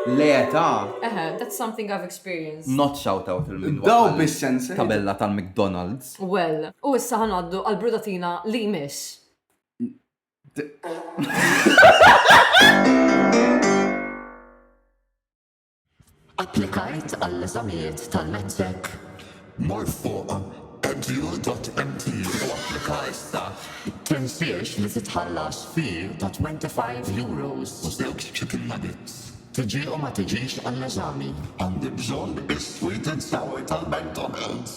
Le ta. Eħe, that's something I've experienced. Not shout out il-min. Daw bis-sense. Tabella tal-McDonald's. Well, u issa ħanaddu għal-brudatina li miss. Applikajt għall-eżamijiet tal-METREK? Mor fuq edu.mt u applika issa! Tinsiex li titħallas fee ta' €25 u żewġ chicken nuggets. Tiġi u ma tiġix għall-eżami? Għandi bżonn is-sweet and sour tal-McDonald's!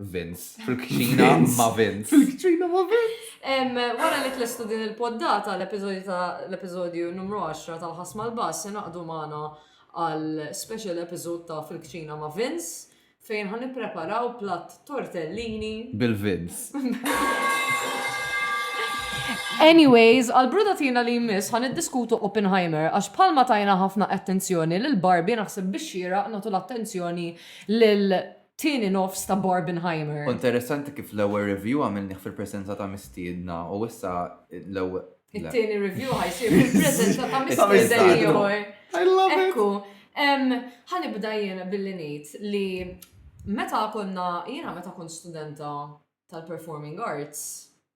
Vince. Fil-kċina ma' Vince. Fil-kċina ma' Vince. Wara li tlestu din il-poddata l-episodju numru 10 tal-ħasma l-bass se naqdu magħna għal special episode ta' fil-kċina ma' Vince fejn ħan preparaw platt tortellini. Bil-Vince. Anyways, għal brudatina li jmiss ħan diskutu Oppenheimer, għax palma tajna ħafna attenzjoni l-Barbie naħseb biex xira natu l-attenzjoni l Tieni nofs ta' Barbenheimer. U interessanti kif l-ewwel review għamilnih fil-presenza ta' mistiedna u issa l-ewwel. It-tieni review ħajsir fil-presenza ta' mistiedna ieħor. Ekku, ħanibda jiena billi ngħid li meta konna jiena meta kont studenta tal-performing arts,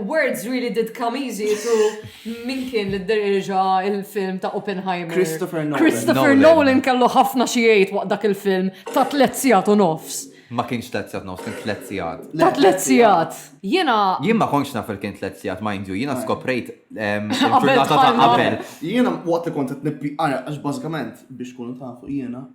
Words really did come easy to min kien li d-derġa il-film ta' Oppenheimer. Christopher Nolan. Christopher Nolan kellu ħafna xiejt waqt dak il-film ta' tletzijat u nofs. Ma kienx tletzijat nofs, kien tletzijat. Ta' tletzijat. Jena. Jien ma konx naf il-kien tletzijat, mind you, jena skoprejt il-ġurnata ta' qabel. Jena waqt li kont qed nippi għax bażikament biex kunu tafu jena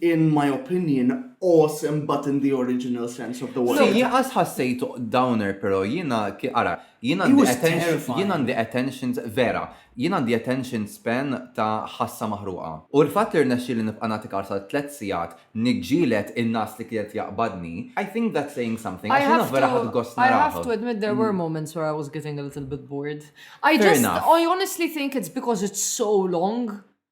in my opinion, awesome but in the original sense of the word. Le, jien qas ħassejtu downer pero jiena ki-, ara, jien He għandi was atten-, terrifying. jien għandi attention, vera, jien għandi attention span ta' ħassa maħruqa. U l-fatt li rnexxieli nibqa' nagħti kars għal tliet sigħat niġġieled in-nagħas li kienet jaqbadni, I think that's saying something, għax jiena vera ħadt gost I have to, I have narah. to admit there were moments where I was getting a little bit bored. I Fair just, enough. I honestly think it's because it's so long.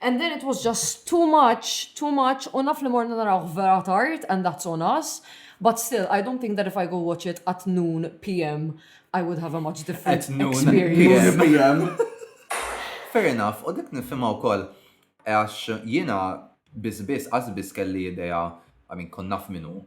And then it was just too much, too much, u naf li morna narawh vera tard and that's on us, but still I don't think that if I go watch it at noon PM I would have a much different At noon experience. PM. Fair enough, u dik nifhimha wkoll għax jiena biss biss qas biss kelli idea, I mean kont naf minnu,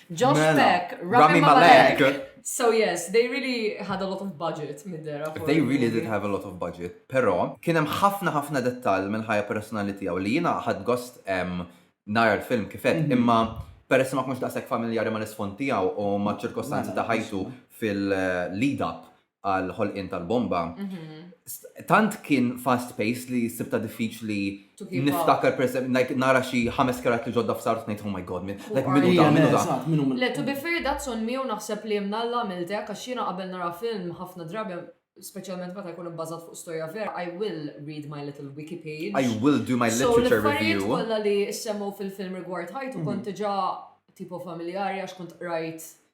Josh Mela, Peck, Rami Rami Malek. Malek. So yes, they really had a lot of budget mid there. for They the really movie. did have a lot of budget, però kien hemm ħafna ħafna dettall mill-ħajja personali tiegħu li jiena ħadd gost em, nara l-film kifet, Mhm. imma peress ma kunx daqshekk familjari mal-isfond tiegħu u ma' ċirkostanzi Mela, ta' ħajtu fil-lead up għal ħolqien tal-bomba, tant kien fast pace li sibta diffiċli niftakar per like nara xi ħames karattri ġodda f'sar tnejt oh my god, like minu da, minu da. Le to be fair that's on me u naħseb li mnalla għamiltek għax jiena qabel nara film ħafna drabi Speċjalment meta jkun ibbażat fuq storja vera, I will read my little wiki page. I will do my literature review. So, kollha li semmu fil-film rigward ħajtu mhm. kont diġà tipo familjari għax kont rajt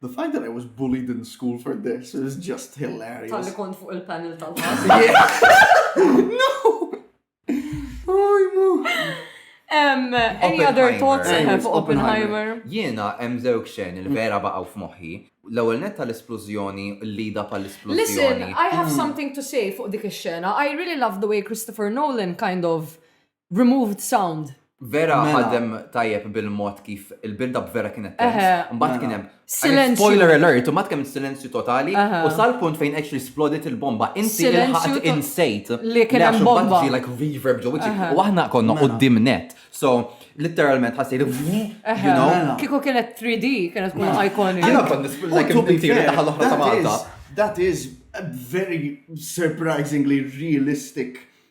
The fact that I was bullied in school for this is just hilarious. Talli kont fuq il-panel tal-ħas. no! Oh, mu. Um, any other thoughts I have Oppenheimer? Jiena hemm żewġ xen il-vera baqgħu f'moħħi. L-ewwel net tal-esplużjoni, l-lida pal-esplużjoni. Listen, I have hmm. something to say fuq dik ix-xena. I really love the way Christopher Nolan kind of Removed sound. Vera Mela. ħadem tajjeb bil-mod kif il-build-up vera kienet tense. Eħe. Mbagħad kien hemm Silenzju. spoiler alert, u mbagħad kemm silenzju totali Eħe. u sal-punt fejn actually splodet il-bomba. Inti Silenzju ilħaqt to- insejt li kien hemm għax imbagħad bomba. ġie like reverb ġo wiċċi. Eħe. U aħna konna Mela. qudiem net. So literalment ħassejt you know. Mela. Kieku kienet 3D, kienet tkun iconic. Jiena kont nisb- U like to be inti fair, naħa l-oħra ta' that Malta. is- That is a very surprisingly realistic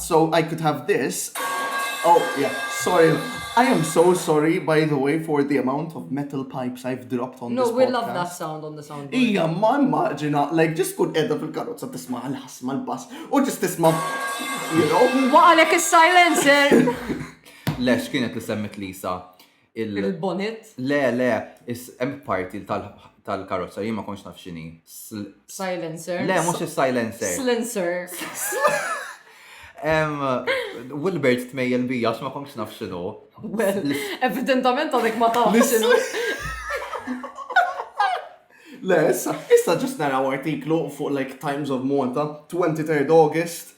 So I could have this oh yeah sorry I am so sorry by the way for the amount of metal pipes I've dropped on this podcast. No we love that sound on the sound. Ija ma immaġina like just kun edha fil-karozza tisma' l-ħasma l-bass u just tisma' you know. Waqalek is-silencer. Lex kienet li semmit Lisa. Il-bonnet? Le, le, hemm parti tal-karozza jien ma kontx naf x'inhi. Silencer. Le, mhux is-silencer. Silencer. Wilbert tmejjel bija x'ma kontx naf x'inhu. Evidentament għadek ma taf x'inhu. Le, issa, issa ġust naraw artiklu fuq like Times of Malta, 23 August,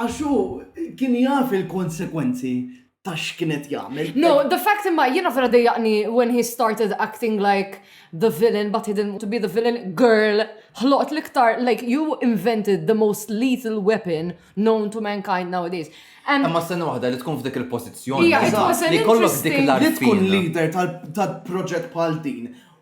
Għax hu kien jaf il-konsekwenzi ta' x'kien qed jagħmel. No, the fact imma jiena vera dejjaqni when he started acting like the villain but he didn't want to be the villain. Girl, ħloqt l-iktar, like you invented the most lethal weapon known to mankind nowadays. And Imma s-sena waħda li tkun f'dik il-pożizzjoni. Ija, it was an Li kollok dik interesting- l Li tkun leader tal-proġett bħal din.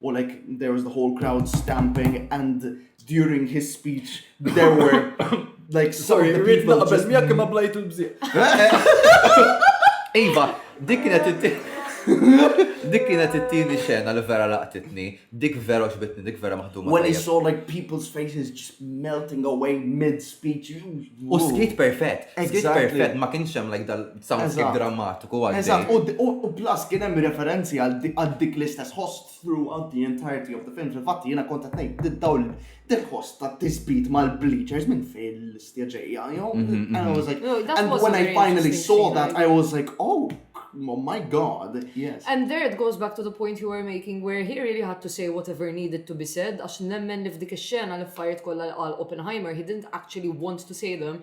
u like there was the whole crowd stamping and during his speech there were like sorry rrid naqbel miegħek imma blajt il-bżieq. Iva, dik kienet Dik kienet it-tieni xena li vera laqtitni, dik vera xbitni, dik vera maħduma. When I saw like people's faces just melting away mid-speech. U skit perfett, skit perfett, ma kienx hemm like dal Soundscape drammatiku għaddej. Eżatt, u plus kien hemm referenzi għal dik l-istess ħoss throughout the entirety of the film. Fil-fatt jiena kont qed ngħid dawl dil-ħoss ta' tisbit mal-bleachers minn fejn l-istja ġejja, jew? And I was like, and when I finally saw that, I was like, oh, oh my god, yes. And there it goes back to the point you were making where he really had to say whatever needed to be said għax nemmen li f'dik ix-xena l-affarijiet kollha li qal Oppenheimer he didn't actually want to say them,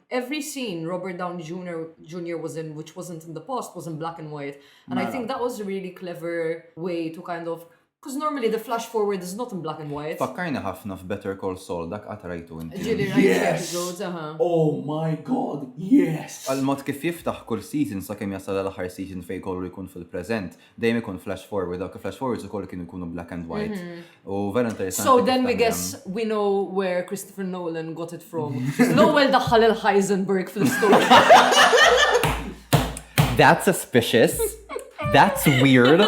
every scene Robert Downey Jr. Jr. was in which wasn't in the past was in black and white. And I think mela. that was a really clever way to kind of Because normally the flash forward is not in black and white. Fakkajni ħafna f'Better Call Saul dak qatt rajtu inti. Ġili episodes, aha. Oh my god, yes! Għal-mod kif jiftaħ kull season sa kemm jasal l-aħħar season fejn kollu jkun fil-preżent, dejjem ikun flash forward, dawk flash forwards ukoll kienu jkunu black and white. U vera interessanti. So then we guess we know where Christopher Nolan got it from. L-ewwel daħħal il-Heisenberg fl-istorja. That's suspicious. That's weird.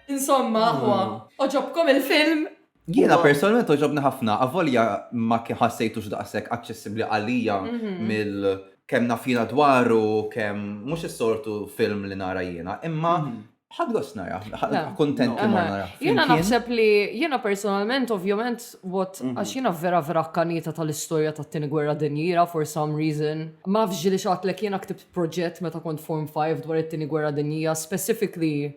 Insomma, huwa, oġobkom il-film Jiena personalment oġobni ħafna, avolja ma kien ħassejtux daqshekk aċċessibbli għalija mhm. mill kemm nafina dwaru, kemm mhux is-sortu film li nara jiena, imma mhm. ħadgos nara, kontent li ma nara. Jiena naħseb li jiena personalment ovvjament what mhm. għax jiena vera vera kanita tal-istorja tat-tieni gwerra dinjira for some reason. Ma fġi li xatlek jiena ktibt proġett meta kont form 5 dwar it-tieni gwerra dinjija, specifically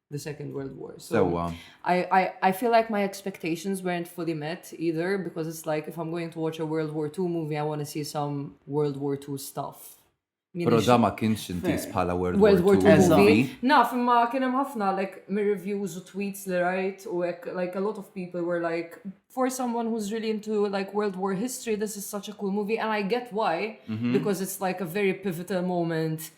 the Second World War. So Sewa. I, I, I feel like my expectations weren't fully met either because it's like if I'm going to watch a World War II movie, I want to see some World War II stuff. Pero da ma kienx intis bħala World, World War II movie. Naf, imma kien hemm ħafna like mir reviews u tweets li rajt u hekk like a lot of people were like for someone who's really into like World War history this is such a cool movie and I get why mm -hmm. because it's like a very pivotal moment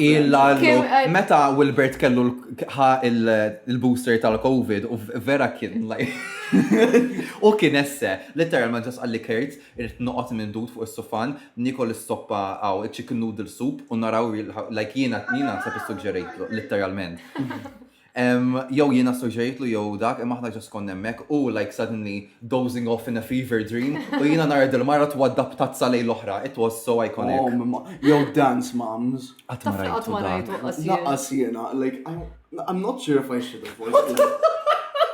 Il-lallu, meta Wilbert kellu ħa il-booster tal-Covid, u vera kien laj. U kien esse, letteralment ġas għalli kert, irrit noqot minn dud fuq il-sufan, nikol il-soppa għaw, il-chicken noodle soup, u naraw, like jina, jina sa' suġġerejtlu, letteralment. Jew jien assoġġajtlu jew dak, imma aħna just konna hemmhekk, hu like suddenly dozing off in a fever dream, u jiena nara dil-mara twadda' b'tazza lejn l-oħra. It was so iconic. Jew Dance Moms. Qatt ma rajtu dak. Lanqas jiena. Like, I'm not sure if I should have watched it.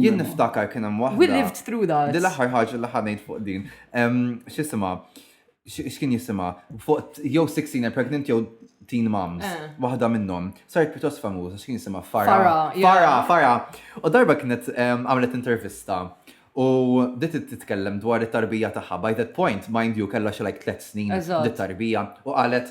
Jien niftakar kien hemm waħda. We lived through that. Di l-aħħar ħaġa li ħanejt fuq din. X'isima? X'kien jisima? Fuq jew 16 and pregnant jew teen moms. Eh. Waħda minnhom. Saret pjuttost famuża x'kien jisima Fara. Fara, Fara. U darba kienet għamlet intervista. U dit titkellem dwar it-tarbija tagħha. By that point, mind you, kellha xi like tliet snin dit-tarbija. U qalet